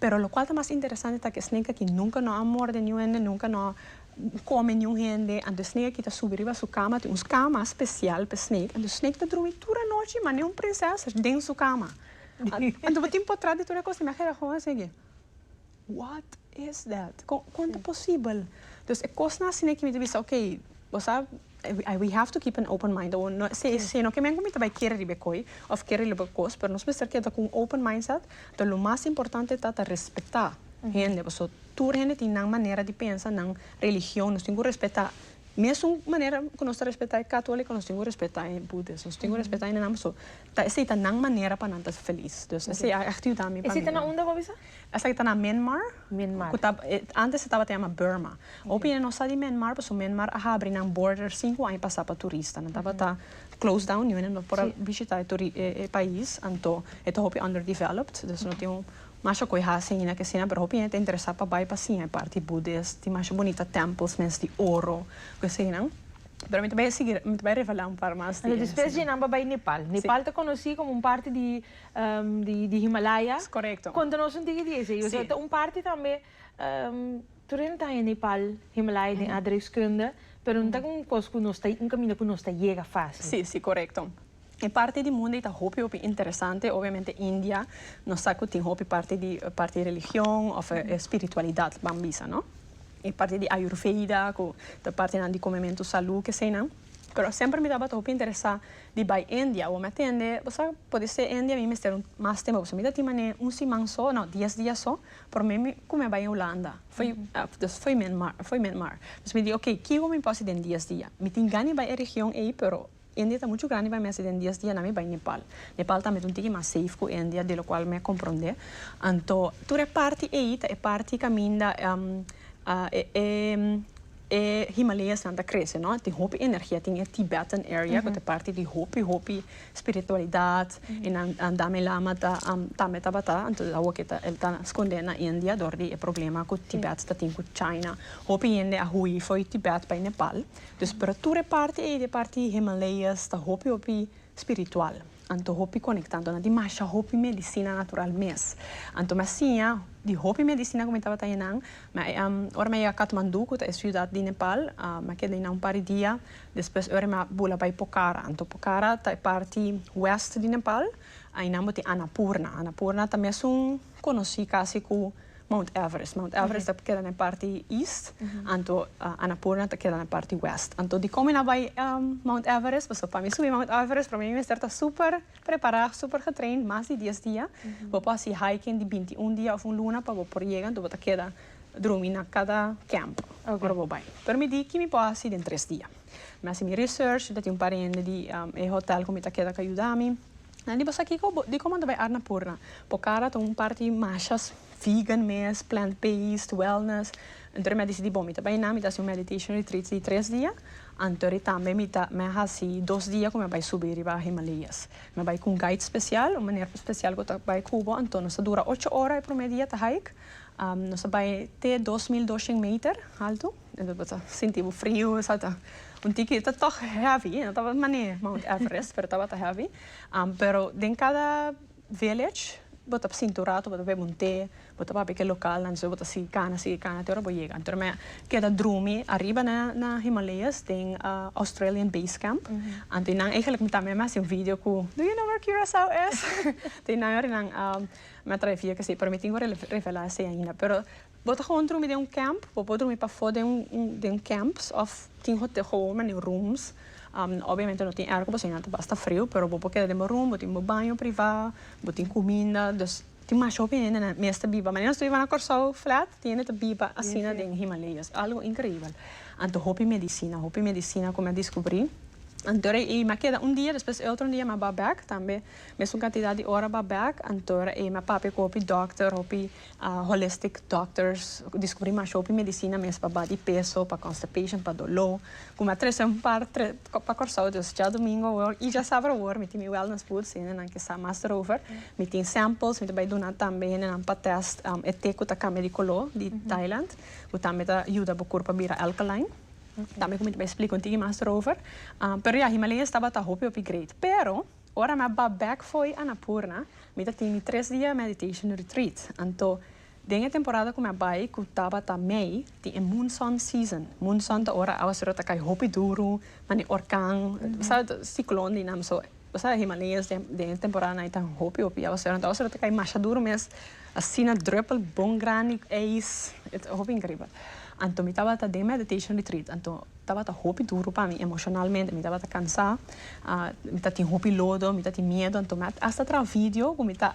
Pero lokual ta mas interesante ta ku e snake aki nunka no a morde niun hende, nunka no a kome niun hende, anto e snake aki ta subi riba su kama, tin un kama spesial pa e snake, anto e snake ta drumi tur anochi manera un prinses den su kama. Anto bo tin por tras di tur e kosnan mi a keda kon asina ke, what is that? Kon ta posibel? Entonces e kosnan asina mi ta bisa, ok, bo sa. We have to keep an open mind awor no esei e sino ke men ku mi ta bai kere riba e koi of kere riba e kos pero nos mester keda ku un open mindset ta lo mas importante ta ta respeta hende paso tur hende tin nan manera di pensa nan religion nos tin ku respeta mesun manera ku nos ta respeta e katoliko nos tin ku respeta e budes nos tin ku respeta hende nan paso ta esei ta nan manera pa nan ta feliz esei a ayuda mi pa mi esei ta na unda ku a bisa? Esaki ta na Minmar. Minmar. Ku ta antes se tabata yama Burma. Hopi nan no sa di Minmar paso Minmar a habri nan border sinku aña pasa pa turista. Nan tabata close down niu e nan no por a bishita e turi e pais anto e ta hopi underdeveloped dus no tin masha ku e hasi aina ke asina pero hopi hende ta interesa pa bai pa siña e parti Buddhist tin masha bunita temples mes di oro ku asina. Pero mi ta bai a sigui mi ta bai a revela un par mas di e. Despues di nan ba bai Nepal. Nepal ta konosi komo un parti di. di Himalaya. Es korekto. Konta nos un tiki di esei. Si. Osea ta un parti tambe, tur e montaña Nepal, Himalaya den aardrijkskunde, pero no ta ku un kos ku nos ta, un kaminda ku nos ta yega fasil. Si, si, korekto. E parti di mundu ei ta hopi hopi interesante, obviamente India, nos sa ku tin hopi parti di, parti religion of e spiritualidad, ban bisa, no? E parti di Ayurveda ku ta partinan di komementu salu, ke eseinan. Pero semper mi tabata hopi interesa di bai India awor mi a tende bo sa podi ser India mi mester un mas tempo pasobra mi ta tin manera un siman so no dies dia so pero mi mi cume bai Hulanda foi dus foi Myanmar foi Myanmar dus mi di ok ki ho mi por haci den dies dia mi tin gana bai e region ey pero India ta mucho grandi pa mi haci den dies dia nan mi bai Nepal Nepal tambe ta un tiki mas safe cu India de lo cual mi a compronde anto tur e parti ey ta e parti caminda e E Himaleyasnan ta krese, no? Tin hopi energia. Tin e Tibetan area ku ta parti di hopi, hopi spiritualidat. E nan, Dalai Lama ta, tambe tabata. Anto awo ke ta, el ta skondé na India dor di e problema ku Tibet ta tin ku China. Hopi hende a hui for di Tibet bai Nepal. Dus, pero tur e parti ei di e parti Himaleyas ta hopi, hopi spiritual. Anto hopi konekta, anto nan tin masha hopi medisina natural mes. Anto mi a siña di hopi medisina ku mi tabata hei nan. Ora mi a yega Katmandú, ku ta e siudat di Nepal, mi a keda einan un par di dia. Despues e ora mi a bula bai Pokhara. Anto Pokhara ta e parti wèst di Nepal. Einan bo tin Anapurna. Anapurna ta mesun. conoci casi cu Mount Everest. Mount Everest ta keda na e parti east, anto Annapurna ta keda na e parti west. Anto di como e na bai Mount Everest, pasobra pa mi subi Mount Everest prome mi mester ta super prepara, super getraind, mas di dies dia. Bo por haci hiking di binti i un dia of un luna pa bo por yega, anto bo ta keda drumi na cada camp ora bo bai. Pero mi di ki mi por haci den tres dia. Mi haci mi research, mi ta tin un par hende di e hotel cu mi ta keda cu a yuda mi. Nan di bo sa kiko? Bo diko manda bay Arnapurna? Bo kara ta un parti mashas vegan mes, plant based, wellness. Antori mi a dicidi bo mi ta bay nan, mi ta haci un meditation retreat di tres dia, antori tambe mi ta mi a haci dos dia cu mi a bay subi riba Himalayas. Mi a bay cu un guide special, un meneer special cu ta bay cu bo, anto nos ta dura ocho ora e prome dia ta hike, nos ta bay te dos mil doshend meter alto. Bo ta sinti bo frio esata un tiki ta tog heavy no tabata un manera mount everest pero tabata heavy pero den cada village bo ta sinti un rato bo ta bebe un te bo ta papia ke localnan despues bo ta sigui cana sigui cana te ora bo yega anto me keda drumi ariba na Himalayas den Australian base camp anto y nan eigenlijk mi tambe mi a hasi un video cu do you know where Curacao is? Te nan yor y nan mi a trae video cu esey pero mi tin cu revela esey ainda pero Bo ta gewoon drumi den un camp? Bo por drumi pafó den un den un camps of tin hotel gewoon manera rooms. Obviamente no tin airco pasobra nan ta basta friu pero bo por keda den bo room bo tin bo baño priva bo tin cuminda dus tin masho hende nan mes ta biba manera nos ta biba na Corsou flat tin hende ta biba asina den Himaleyas es algo increibel anto hopi medicina hopi medicina cu mi a descubri antora ei mi a keda un dia despues e otro dia mi a ba bek tambe mesun cantidad di ora ba bek antora ei mi a papia cu hopi doctor hopi A holistic doctors diskubrí mas hopi medisina mes pa ba di peso, pa constipation, pa doló, ku mi a trese un par tre pa Kòrsou. Dus dja domingo awor i dja sabru awor mi tin mi wellness boots i hende nan ke sa mas derover. Mi tin samples, mi ta bai duna tambe hende nan pa tèst e te ku ta kambia di koló di Thailand, ku tambe ta yuda bo kurpa bira alkaline. Tambe ku mi ta bai splika un tiki mas derover. Pero ya Himalaya tabata hopi hopi great. Pero. Ora mi a ba bek fo'i Annapurna, mi ta tin mi tres dia meditation retreat. Anto, den e temporada ku mi a bai, ku tabata mei, tin e moonson season. Moonson ta ora awa sura ta kai hopi duru, mane orkan, bo sa, siklon di nan. So, bo sa Himalayas den e temporanan ei ta hopi hopi awa sura. Anto awa sura ta kai masha duru mes, asina drùpel bon grandi eis, hopi inkribel. Anto mi tabata den meditation retreat. Anto. Tabata hopi duru pa mi emocionalmente, mi tabata cansa, mi ta tin hopi lodo, mi ta tin miedo, anto mi a hasta traha video cu mi ta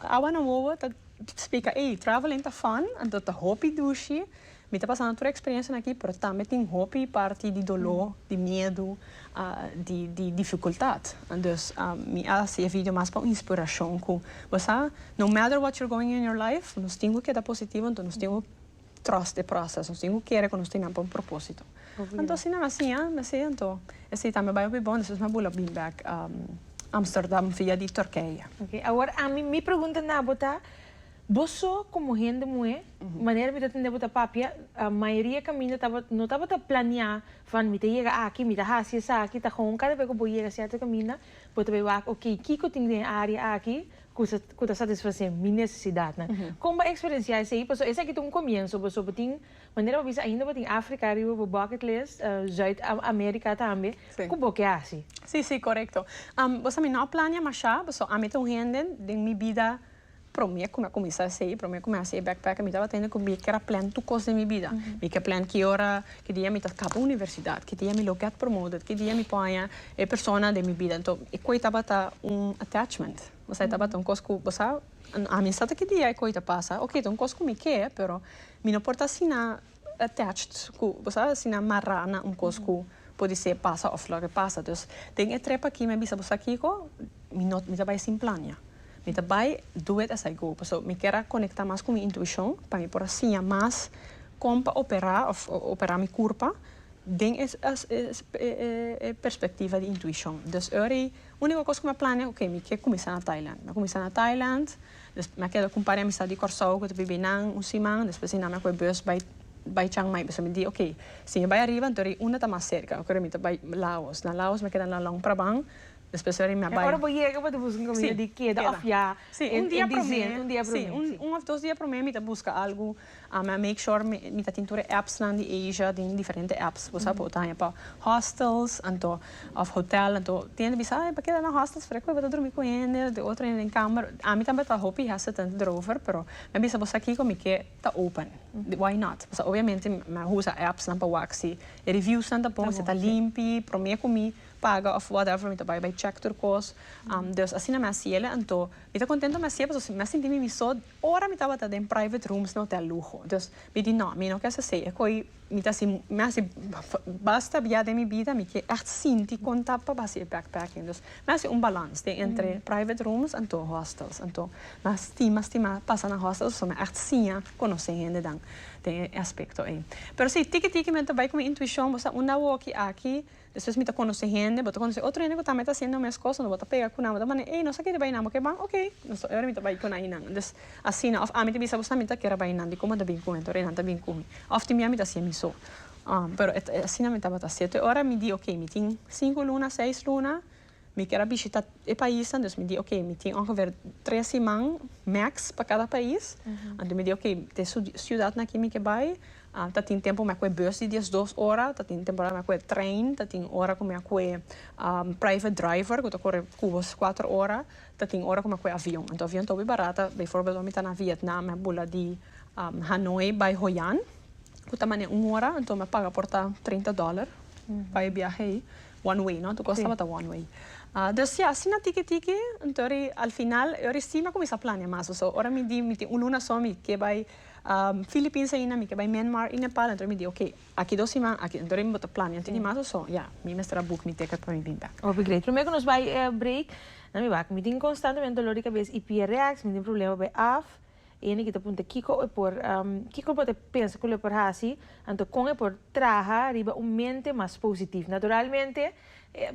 awa na wowo ta splica ey, traveling ta fun, anto ta hopi dushi, mi ta pasando tur e experiencianan aki pero tambe tin hopi parti di dolo, di miedo, di dificultad, dus mi a haci e video mas pa un inspiracion cu bo sa no matter what you're going in your life nos tin cu keda positivo, anto nos tin cu. trust e proces. Nos tin cu kere cu nos tin nan pa un proposito. Anto si nan a siña me si anto esey tambe bay hopi bon despues mi a bula bin bek Amsterdam via di Turkije. Ok, awor ami mi pregunta na bo ta, bo so como hende muhe, manera mi ta tende bo ta papia, mayoria caminda tabata no tabata planea van mi ta yega aki, mi ta haci esaki, ta gewoon cada be cu bo yega cierto caminda bo ta bay wak ok kico tin den e area aki, kusa ku ta satisfasé mi nesesidatnan. Kon bo a eksperensiá esei? Pasobra esaki ta un komienso, boso bo tin, manera bo bisa, ainda bo tin Afrika riba bo bucket list, Zuid Amerika tambe, ku bo ke hasi? Sí, sí, korekto. Boso a mi no plania mashá, boso ami ta un hende den mi bida, promé ku mi a kuminsá esei, promé ku mi a hasi e backpack, mi tabata hende ku mi ke a plan tur kos den mi bida. Mi ke a plan ki ora. Ki dia mi ta kaba universidad, ki dia mi lo get promoted, ki dia mi por haña e persona den mi bida. Anto e koi tabata un attachment. Bosa e tabata un kos ku bo sa ami sa ta ki dia e koi ta pasa. Oke ta un kos ku mi ke, pero mi no por ta asina attached ku bo sa asina mará na un kos ku por disé pasa òf loke pasa. Dus den e trip aki mi a bisa bo sa kiko, mi no mi ta bai sin plania. Mi ta bai do it as I go paso mi kier a conecta mas cu mi intuicion pa mi por a siña mas con pa opera of opera mi curpa den e e perspectiva di intuicion dus ora y unico cos cu mi a planea ok mi kier cuminsa na Thailand mi a cuminsa na Thailand despues mi a keda cu un par di amistad di Corsou cu ta bibi nan un siman despues eynan mi a coge bus bai bai Chiangmai paso mi di ok si mi bai ariba anto unda ta mas cerca mi ta bai Laos na Laos mi a keda na Luang Prabang Despues a rimia bai. E ora bo yega bo ta buska un caminda di keda of ya en diciember un dia prome. Si un of dos dia prome mi ta buska algo a make sure mi ta tin tur e apps nan di Asia den diferente apps bo sa bo ta haña pa hostels anto of hotel anto tende bisa a e bo keda na hostels pero e cu bo ta drumi cu hende de otro hende den kamer ami tambe ta hopi hesitant derover pero mi a bisa bo sa kico mi ke ta open why not pasobra obviamente mi a usa apps nan pa wak si e reviews nan ta bon si ta limpi prome cu mi paga of whatever mi ta bai bai check tur cos dus asina mi a siela anto mi ta contento mi a siela pasobra mi a sinti mi miso ora mi tabata den private rooms den hotel lujo dus mi di no mi no kier hasi e koi mi ta hasi mi a hasi basta bia den mi bida mi kier echt sinti con ta pa hasi e backpacking dus mi a hasi un balans den entre private rooms anto hostels anto mi a stima stima pasa na hostels pasobra mi a echt siña conoce hende dan den e aspecto ey pero si tiki tiki mi ta bai cu mi intuicion bo sa unda awor ki aki Despues mi ta conoce hende, bo ta conoce otro hende cu tambe ta haciendo e mes cos, unda bo ta pega cu nan, bo ta manda, ey, nos a kere bay nan, bo ke ban? Ok, nos ta ora mi ta bay cu nainan. Des, asina, of ami ta bisa bo sa mi ta kere bay nan, di como ta bin cu hen, te ora nan ta bin cu mi, of tin biami ta haci mi so. Um, pero e, e asina mi tabata haci. Te ora mi di, ok, mi tin cinco luna, seis luna. Mi kier a bishita e paisnan, dus mi di ok, mi tin ongeveer tres siman max pa kada pais. Anto mi di ok, te su siudatnan aki mi ke bai, ta tin tempo mi a kue bus di diesdos ora, ta tin temporada mi a kue trein, ta tin ora ku mi a kue private driver ku ta kore kuba kuater ora, ta tin ora ku mi a kue avion. Anto avion ta hopi barata, beivoorbeeld wan mi ta na Vietnam, mi a bula di Hanoi bai Hoi An, ku ta mane un ora, anto mi a paga por ta trinta dòler pa e biahe ei. One way no? Tu cos tabata one way. Dus ya, asina tiki tiki, enton ri al final e ori si mi a cuminsa planea mas paso ora mi di mi tin un luna so mi ke bai Philippines aina, mi ke bai Myanmar y Nepal enton ri mi di ok aki dos siman aki enton ri mi bo ta planea un tiki mas paso ya mi mester a book mi ticket pa mi bin bek. Hopi great. Prome cu nos bai break nan mi wak mi tin constantemente dolor di cabes y pierreaks mi tin problema pa bai af. E hende ki ta punta kiko e por kiko bo ta pensa ku lo por hasi, anto kon e por traha riba un mente mas positivo. Naturalmente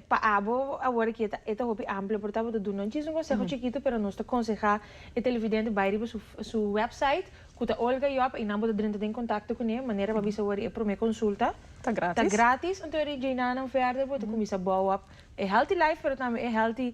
pa abo awor aki e ta hopi amplo por abo ta duna un chisme konseho chikito pero nos ta konsehá e televidente bai riba su su wèpsait ku ta Olga Job i nan bo ta drenta den kontakto kuné manera pa bisa wor e promé konsulta ta gratis anto ri djina nan vèrdè bo ta kuminsá bou op E healthy life pero tambe e healthy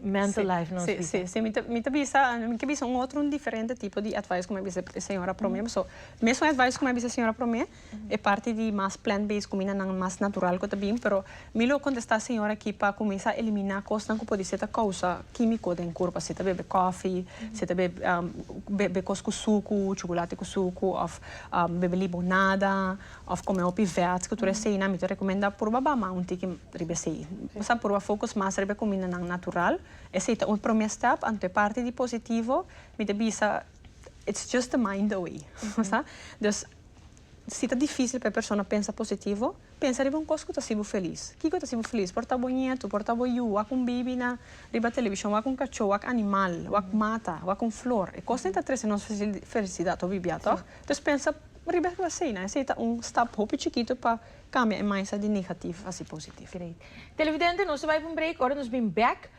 mental life nos bisa. Si, si, si. Mi ta bisa, mi ke bisa un otro, un diferente tipo di advice ku mi a bisa e señora promé. Paso, mesun advice ku mi a bisa e señora promé, e parti di mas plant based kumindanan mas natural ku ta bin, pero mi lo kontestá e señora aki pa kuminsá eliminá kosnan ku podisé ta kousa kímiko den kurpa. Si ta bebe kòfi, si ta bebe kos ku suku, chocolate ku suku òf bebe libonada. Of come hopi verd cu tur esey nan mi ta recomenda purba bama un tiki riba esey. Sa purba focus mas riba e cumindanan natural. Esey ta un prome step anto e parti di positivo mi ta bisa it's just the mind away. Sa. Dus si ta dificil pa e persona pensa positivo pensa riba un cos cu ta haci bo feliz. Kico ta haci bo feliz? Por ta bo nieto, por ta bo yu, wak un bibi na riba television, wak un cacho, wak animal, wak mata, wak un flor. E cosnan e ta trece nos felicidad hopi bia, toh? Dus pensa. Ma riba esnan asina, esei ta un stap hopi chikito pa kambia e mindset di negatif hasi positif. Great. Televidente, nos ta bai pa un break, ora nos bin bèk,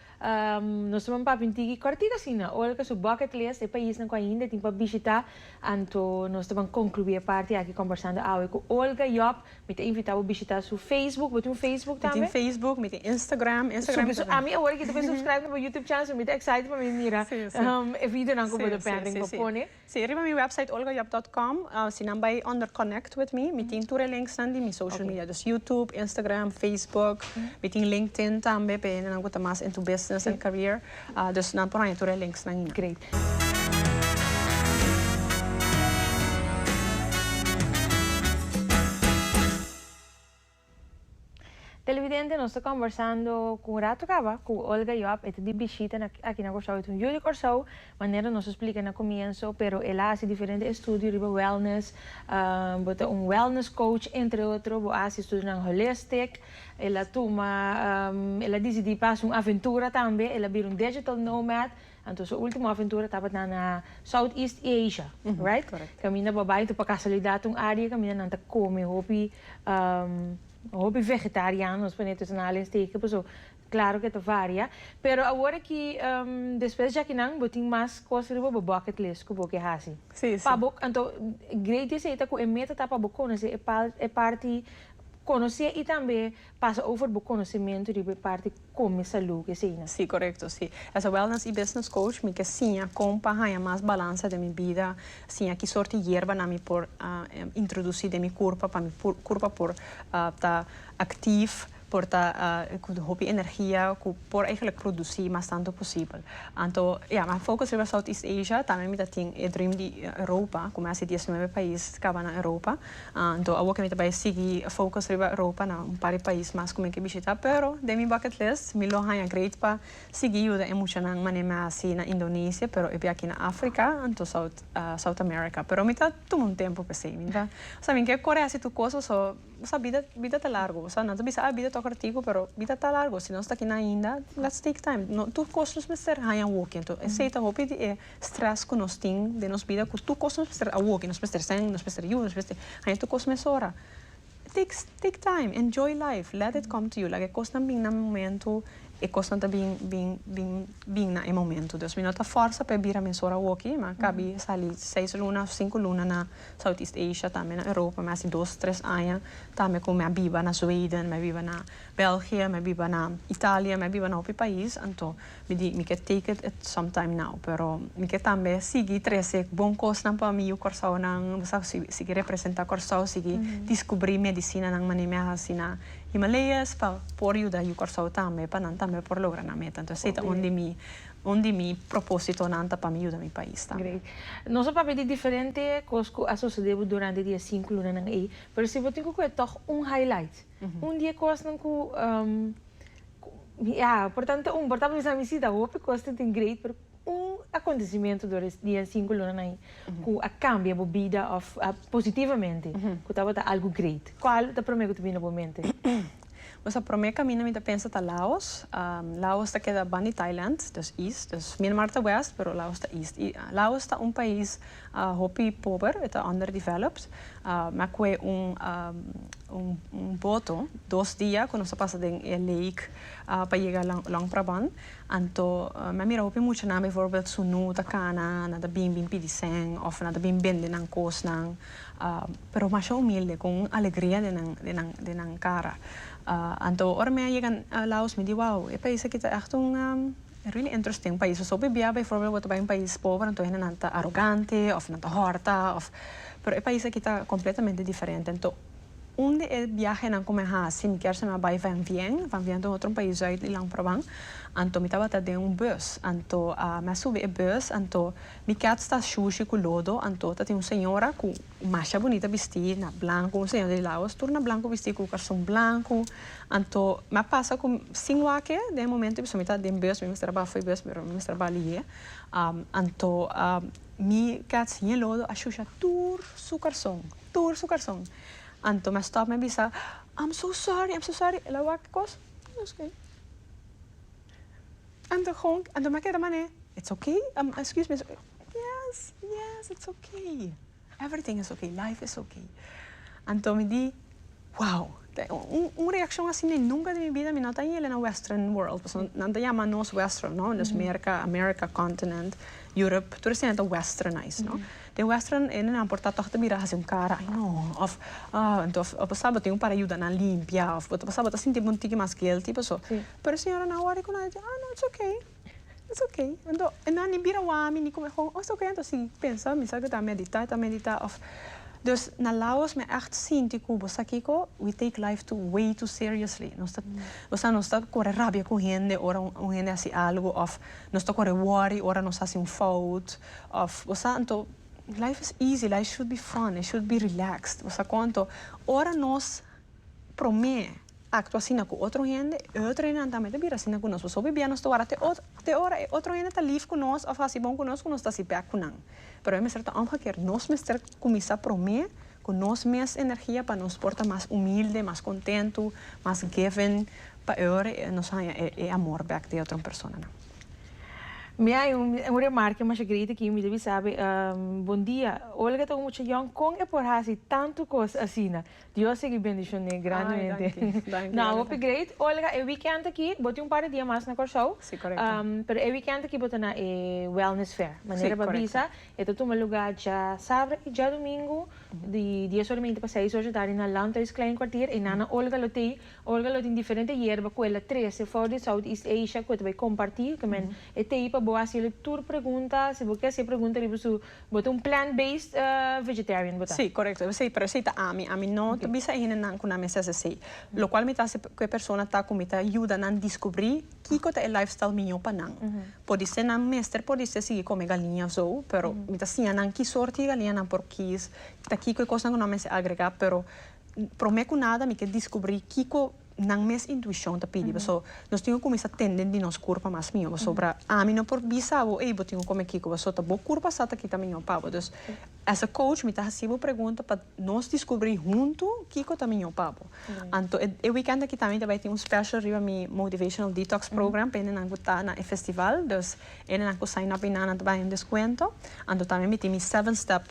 nos ta ban papia un tiki kòrtiku asina, Olga su bucket list, e paisnan ku ainda e tin pa bishitá, anto nos ta ban konkluí e parti aki Kombersando Awe ku Olga Job. Mi ta invitá bo bishitá su Facebook, bo tin un Facebook tambe? Mi tin Facebook, mi tin Instagram, Instagram tambe. Ami awor a kita bai subscribe na bo YouTube channel, so mi ta excited pa mi mira e videonan ku bo ta pèrdè, ku bo pone. Sí, riba mi website olgajob dot com, si nan bai onder connect with me, mi tin tur e links nan di mi social media, dus YouTube, Instagram, Facebook, mi tin LinkedIn tambe p'e hende nan cu ta mas into business and career, dus nan por haña tur e links nan ina. Televidente nos ta kombersando ku un rato kaba ku Olga Joab e ta di bishita na aki na Kòrsou e ta un yu di Kòrsou manera nos a splika na komienso pero el a hasi diferente estudio riba wellness bo ta un wellness coach entre otro bo a hasi estudionan holistic el a tuma el a disidí pa hasi un aventura tambe el a bira un digital nomad Anto su ultimo aventura tabata na Southeast Asia, right? Correcto. Caminda bo bay anto pa casualidad un area caminda nan ta come hopi hopi vegetariano nos pone tussen halen steken paso claro que ta varia. Pero awor aki despues jaki nan bo tin mas cos riba bo bucket list cu bo ke haci. Sí, sí. Pa bo anto great desieta cu e meta ta pa bo conoce e parti conoce y tambe Pasa over bo conocimentu riba e parti come salud esey nan. Sí, correcto sí. As a wellness y business coach mi ke siña con pa haña mas balansa den mi bida, siña ki sorti yerbanan mi por introduci den mi curpa pa mi curpa por ta actief, por ta cu hopi energia, cu por eigenlijk produci mas tanto posibel. Anto ya, mi a focus riba Southeast Asia, tambe mi ta tin e dream di Europa, cu mi a hasi diesnuebe pais caba na Europa. Anto awor ke mi ta bai sigui focus riba Europa na un par di pais mas ku mi ke bishita pero den mi bucket list mi lo haña great pa sigui yuda e muchanan mane mi a hasi na Indonesia pero e biachi na Africa anto South South America pero mi ta tuma un tempu pesey mi ta osea mi ke kore hasi tur cosa so osea bida bida ta largu osea nan ta bisa a bida tok artigu pero bida ta largu si nos ta kina ainda lets take time no tur cos nos mester haña awor ke anto esey ta hopi di e Stress cu nos tin den nos bida cu tur cos nos mester awo que nos mester seng nos mester yu nos mester haya tur cos mesora takes take time enjoy life let it come to you laga e cosnan bin na momento e cosnan ta bin bin bin bin na e momento dus mi no ta forsa pa e bira mesora awoki mi a cabi sali seis luna of cinco luna na southeast asia tambe na europa mi a haci dos tres aña tambe cu mi a biba na zweden mi a biba na belgië mi a biba na italia mi a biba na hopi pais anto Mi di, mi ke take it it some time now, pero mi ke tambe sigui trese bon kosnan pa mi yu Kòrsounan, bo sa, sigui representá Kòrsou, sigui diskubrí medisinanan mané mi a hasi na Himalayas pa por yuda yu Kòrsou tambe, pa nan tambe por logra nan meta. Entonces ei ta un di mi, un di mi propósitonan ta pa mi yuda mi pais tambe. Great. Nos a papia di diferente kos ku a sosede bo durante di e sinku lunanan ei, pero si bo tin ku kohe tòg un highlight? Un di e kosnan ku ya por tantu un por ta bisa mi si ta hopi kosnan tin great pero un akontesimentu dor e dia sinku lonan ai ku a kambia bo bida òf positivamente ku tabata algu great kual ta promé ku ta bini na bo mente? Pues a promé kaminda mi ta pensa ta Laos, Laos ta keda banda di Thailand, dus east, dus Myanmar ta west pero Laos ta east i Laos ta un pais a hopi pober, e ta underdeveloped, a mi a koe un un boto dos dia ku nos a pasa den e lake pa yega Long Prabang anto mi a mira hopi muchanan bivoorbeeld su nu ta kana nan ta bin bin pidi sèn òf nan ta bin bende nan kosnan pero masha humilde ku un alegria den nan den nan den nan kara anto ora mi a yega a Laos mi di wou e pais aki ta ègt un E really interesting, un pais pasobra bibia byvoorbeeld bo ta bai un pais pober anto hendenan ta arogante of nan ta hòrta of pero e pais aki ta completamente diferente anto un di e biahenan ku mi a hasi mi kier sa mi a bai van vien van vien ta un otro pais zuid di Langprabang anto mi tabata den un bus anto mi a subi e bus anto mi kèt sta shushi ku lodo anto tatin un señora ku y masha bunita bisti na blanco un señor di laos tur na blanco bisti cu carson blanco anto mi a pasa cu sin wak e den e momento e persona mi ta den bus mi mester a baha for bus pero mi mester a baha liye anto mi keda sin e lodo a shusha tur su carson tur su carson anto mi a stop mi a bisa am so sorry am so sorry el a wak e cos its ok anto mi a keda manera its ok excuse me Yes, yes, it's ok. Everything is ok, life is ok. Anto mi di, wow! Un reaccion asi mi nunca den mi bida mi no ta yelen na western world, pasobra nan ta yama nos western, no? Los Merca, America continent, Europe, tur esei nan ta westernized, no? Den western e nan por ta tòg ta bira hasi un kara, ai no, of anto bo ta sa bo tin un para yuda nan limpia, of bo ta sa bo ta sinti bo un tiki mas guilty paso, pero e señora nan wòrdu ku nan e di, ah no, it's ok. It's ok. Anto e nan ni bira wami ni come home. Oh, it's ok anto si pensa mi sa cu ta medita, ta medita of. Dus na lados mi a echt sinti cu bo sa kico? We take life too way too seriously. Nos ta, o sa nos ta core rabia cu hende ora un hende haci algo of nos ta core worry ora nos haci un fout of bo sa. Anto life is easy, life should be fun, it should be relaxed bo sa con anto ora nos prome Actua asina cu otro hende, e otro hendenan tambe ta bira asina cu nos. Pasobra bibia nos ta wara te otro, te ora e otro hende ta lief cu nos of haci bon cu nos cu nos ta haci bek cu nan. Pero e mester ta omga kier nos mester cuminsa prome cu nos mes energia pa nos por ta mas humilde, mas contento, mas giving pa e ora nos haya e amor bek di e otro personanan. Mi a hay un remark di Masha Great aki mi ta bisa, Bom dia, Olga ta un mucha yong con e por haci tanto cos asina? Dios sigui bendishoné grandemente. Ay, danki, danki, Olga. No, hopi great. Olga, e weekend aki, bo tin un par di dia mas na Kòrsou. Sí, korekto. Pero e weekend aki bo ta na e Wellness Fair. Sí, korekto. Manera bo a bisa, e ta tuma lugá dja sabra i dja dumingu, di dies ora meinti pa seis ora dje tardi na Landhuis Kleinkwartier. E nana Olga lo tei. Olga lo tin diferente yerba ku e la trese for di Southeast Asia ku e ta bai kompartí. Kmen, e tei pa bo hasié tur pregunta. Si bo ke hasié pregunta riba su. Bo ta un plant based vegetarian bo ta? Sí, correcto, esey, pero esey ta ami, ami no ta bisa e hendenan cu nan mester haci esey, lo cual mi ta haci cu e persona ta cu mi ta yuda nan discubri kico ta e lifestyle miyo pa nan, podi ser nan mester por distra sigui come galiña of zo, pero mi ta siña nan ki soorti di galiña nan por kies, ta kico e cosnan cu nan mester agrega, pero prome cu nada mi ke discubri kico. nan mes intuishon ta pidi pasobra nos tin ku kuminsá tende di nos kurpa mas mihó pasobra ami no por bisa bo ey bo tin ku kome kiko pasobra ta bo kurpa sa ta kita mihó pa bo dus as a coach mi ta hasi bo pregunta pa nos diskubrí huntu kiko ta mihó pa bo anto e wikènt aki tambe mi ta bai tin un special riba mi motivational detox program pa hende nan ku ta na e festival dus. Hendenan ku sign up inana ta baha den deskuento. Anto tambe mi tin mi seven step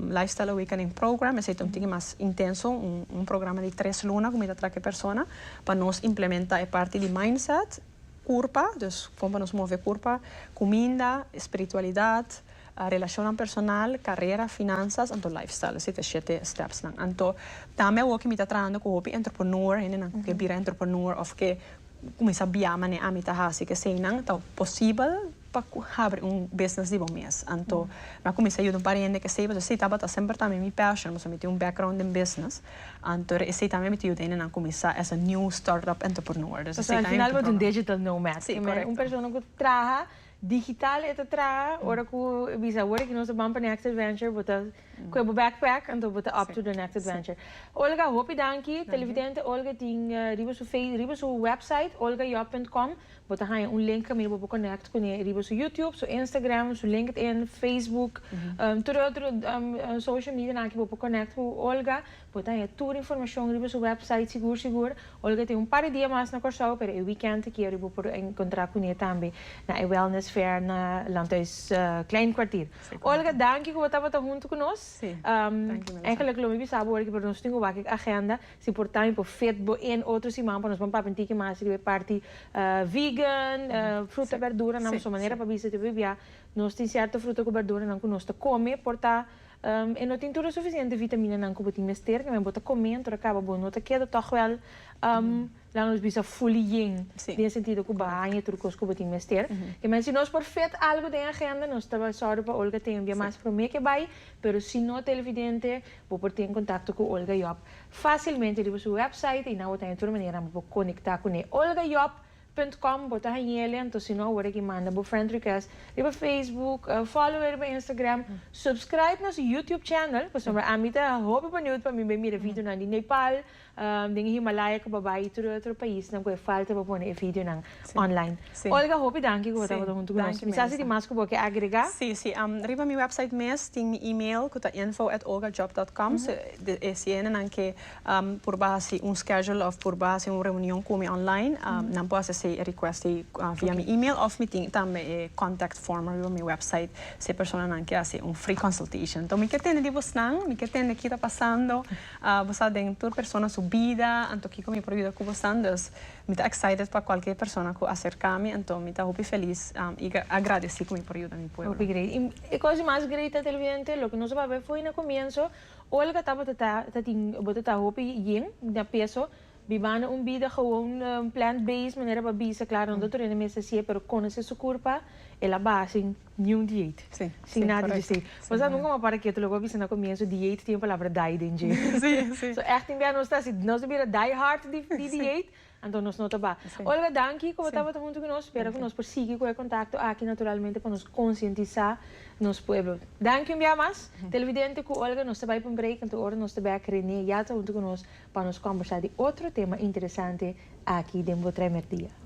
lifestyle awakening program esei ta un tiki mas intenso un programa di tres luna ku mi ta traka e persona pa nos implementa e parti di mindset, kurpa dus kon pa nos move e kurpa, kuminda, spiritualidat, relashonnan personal, karera, finansas anto lifestyle esei ta e shete steps nan. Anto tambe awoki mi ta trahando ku hopi entrepreneur hendenan ku ke bira entrepreneur òf ke. Cu cuminsa bia mane ami ta haci cu eseinan, ta posibel pa cu habri un business di bo mes. Anto mi a cuminsa yuda un par hende cu esey pasobra esey tabata semper tambe mi passion, pasobra mi tin un background den business. Anto e esey tambe mi ta yuda hendenan cuminsa as a new start-up entrepreneur. Pasobra al final bo ta un digital nomad, un persona cu traha Digital e ta traha, ora cu e bisa awor aki nos ta ban pa next adventure bo ta coe bo backpack anto bo ta up to the next adventure. Olga hopi danki, Televidente Olga tin riba su face riba su website olgajob punt com bo ta haya un link caminda bo por connect cune riba su YouTube, su Instagram, su LinkedIn, Facebook, tur e otro social medianan aki bo por connect cu Olga. Bo ta haña tur informashon riba su wèpsait sigur sigur. Olga tin un par di dia mas na Kòrsou, pero e wikènt ta kier bo por enkontrá kuné tambe na e Wellness Fair na Landhuis Klein Kwartier. Olga, danki ku bo tabata huntu ku nos. Ègèlèk lo mi bisa bo ora ki por nos tin wak e agenda, si por tambe por fit bo in otro siman pa nos bon papia un tiki mas riba e parti vegan, fruta, berduranan, so manera pa bisa te bo bibiá nos tin sierto fruta ku berduranan ku nos ta kome por ta E no tin tur e sufisiente vitaminanan ku bo tin mester, kende bo ta kome anto ta kaba bo no ta keda tòg wèl, la nos bisa fuli yen, den e sentido ku bo haña tur kos ku bo tin mester. Keme si nos por fet algu den agenda nos ta bai sòru pa Olga ten un bia mas promé ke bai, pero si no televidente bo por tin kontakto ku Olga Job fasilmente riba su wèpsait i nan bo ta haña tur manera bo por konektá kuné. Olga Job. Punt com bo ta hañele anto si no awor aki manda bo friend request riba Facebook follow e riba Instagram subscribe nos YouTube channel pasobra a ami ta hopi beniud pa mi bai mira videonan di Nepal den e Himalaya ku bo a bai i tur e otro paisnan ku e falta pa pone e videonan online Olga hopi danki ku bo tabata huntu ku nos mi sa si tin mas ku bo ke agrega. Si si riba mi website mes tin mi email ku ta info@olgajob.com so e sientenan ke. Por bo hasi un schedule of por bo hasi un reunion cu mi online, nan por hasi ese request ey via mi email of mi tin tambe e contact form ariba mi website si e personanan ke hasi un free consultation. Enton mi ke tende di bosnan, mi ke tende ki ta pasando, bo sa den tur persona su bida, anto kiko mi por yuda cu bosnan, dus mi ta excited pa cualkier persona cu acerca mi, enton mi ta hopi feliz y agradeci cu mi por yuda mi pueblo. Hopi great. Y e cos di mas great ta televidente, loke nos a papia fo'i na comienzo, Olga tabata ta ta tin tabata ta hopi yin na peso bibando un bida gewoon plant based manera pa bisa claro no ta tur ene mester sie pero conoce su curpa el a baha sin ni un dieet sin nada dje esey pues a nunca mas para keto lo cu a bisa na comienzo dieet tin e palabra dai den dje so ech tin bea nos ta si nos ta bira die hard di dieet. Anto nos no ta ba. Olga danki ku bo tabata huntu ku nos. Spera ku nos por sigui ku e kontakto aki naturalmente pa nos konsientisá nos pueblo. Danki un bia mas. Televidente ku Olga nos ta bai pa un break anto ora nos ta bèk Renee ya ta huntu ku nos pa nos kombersá di otro tema interesante aki den Bo Trèmer Dia.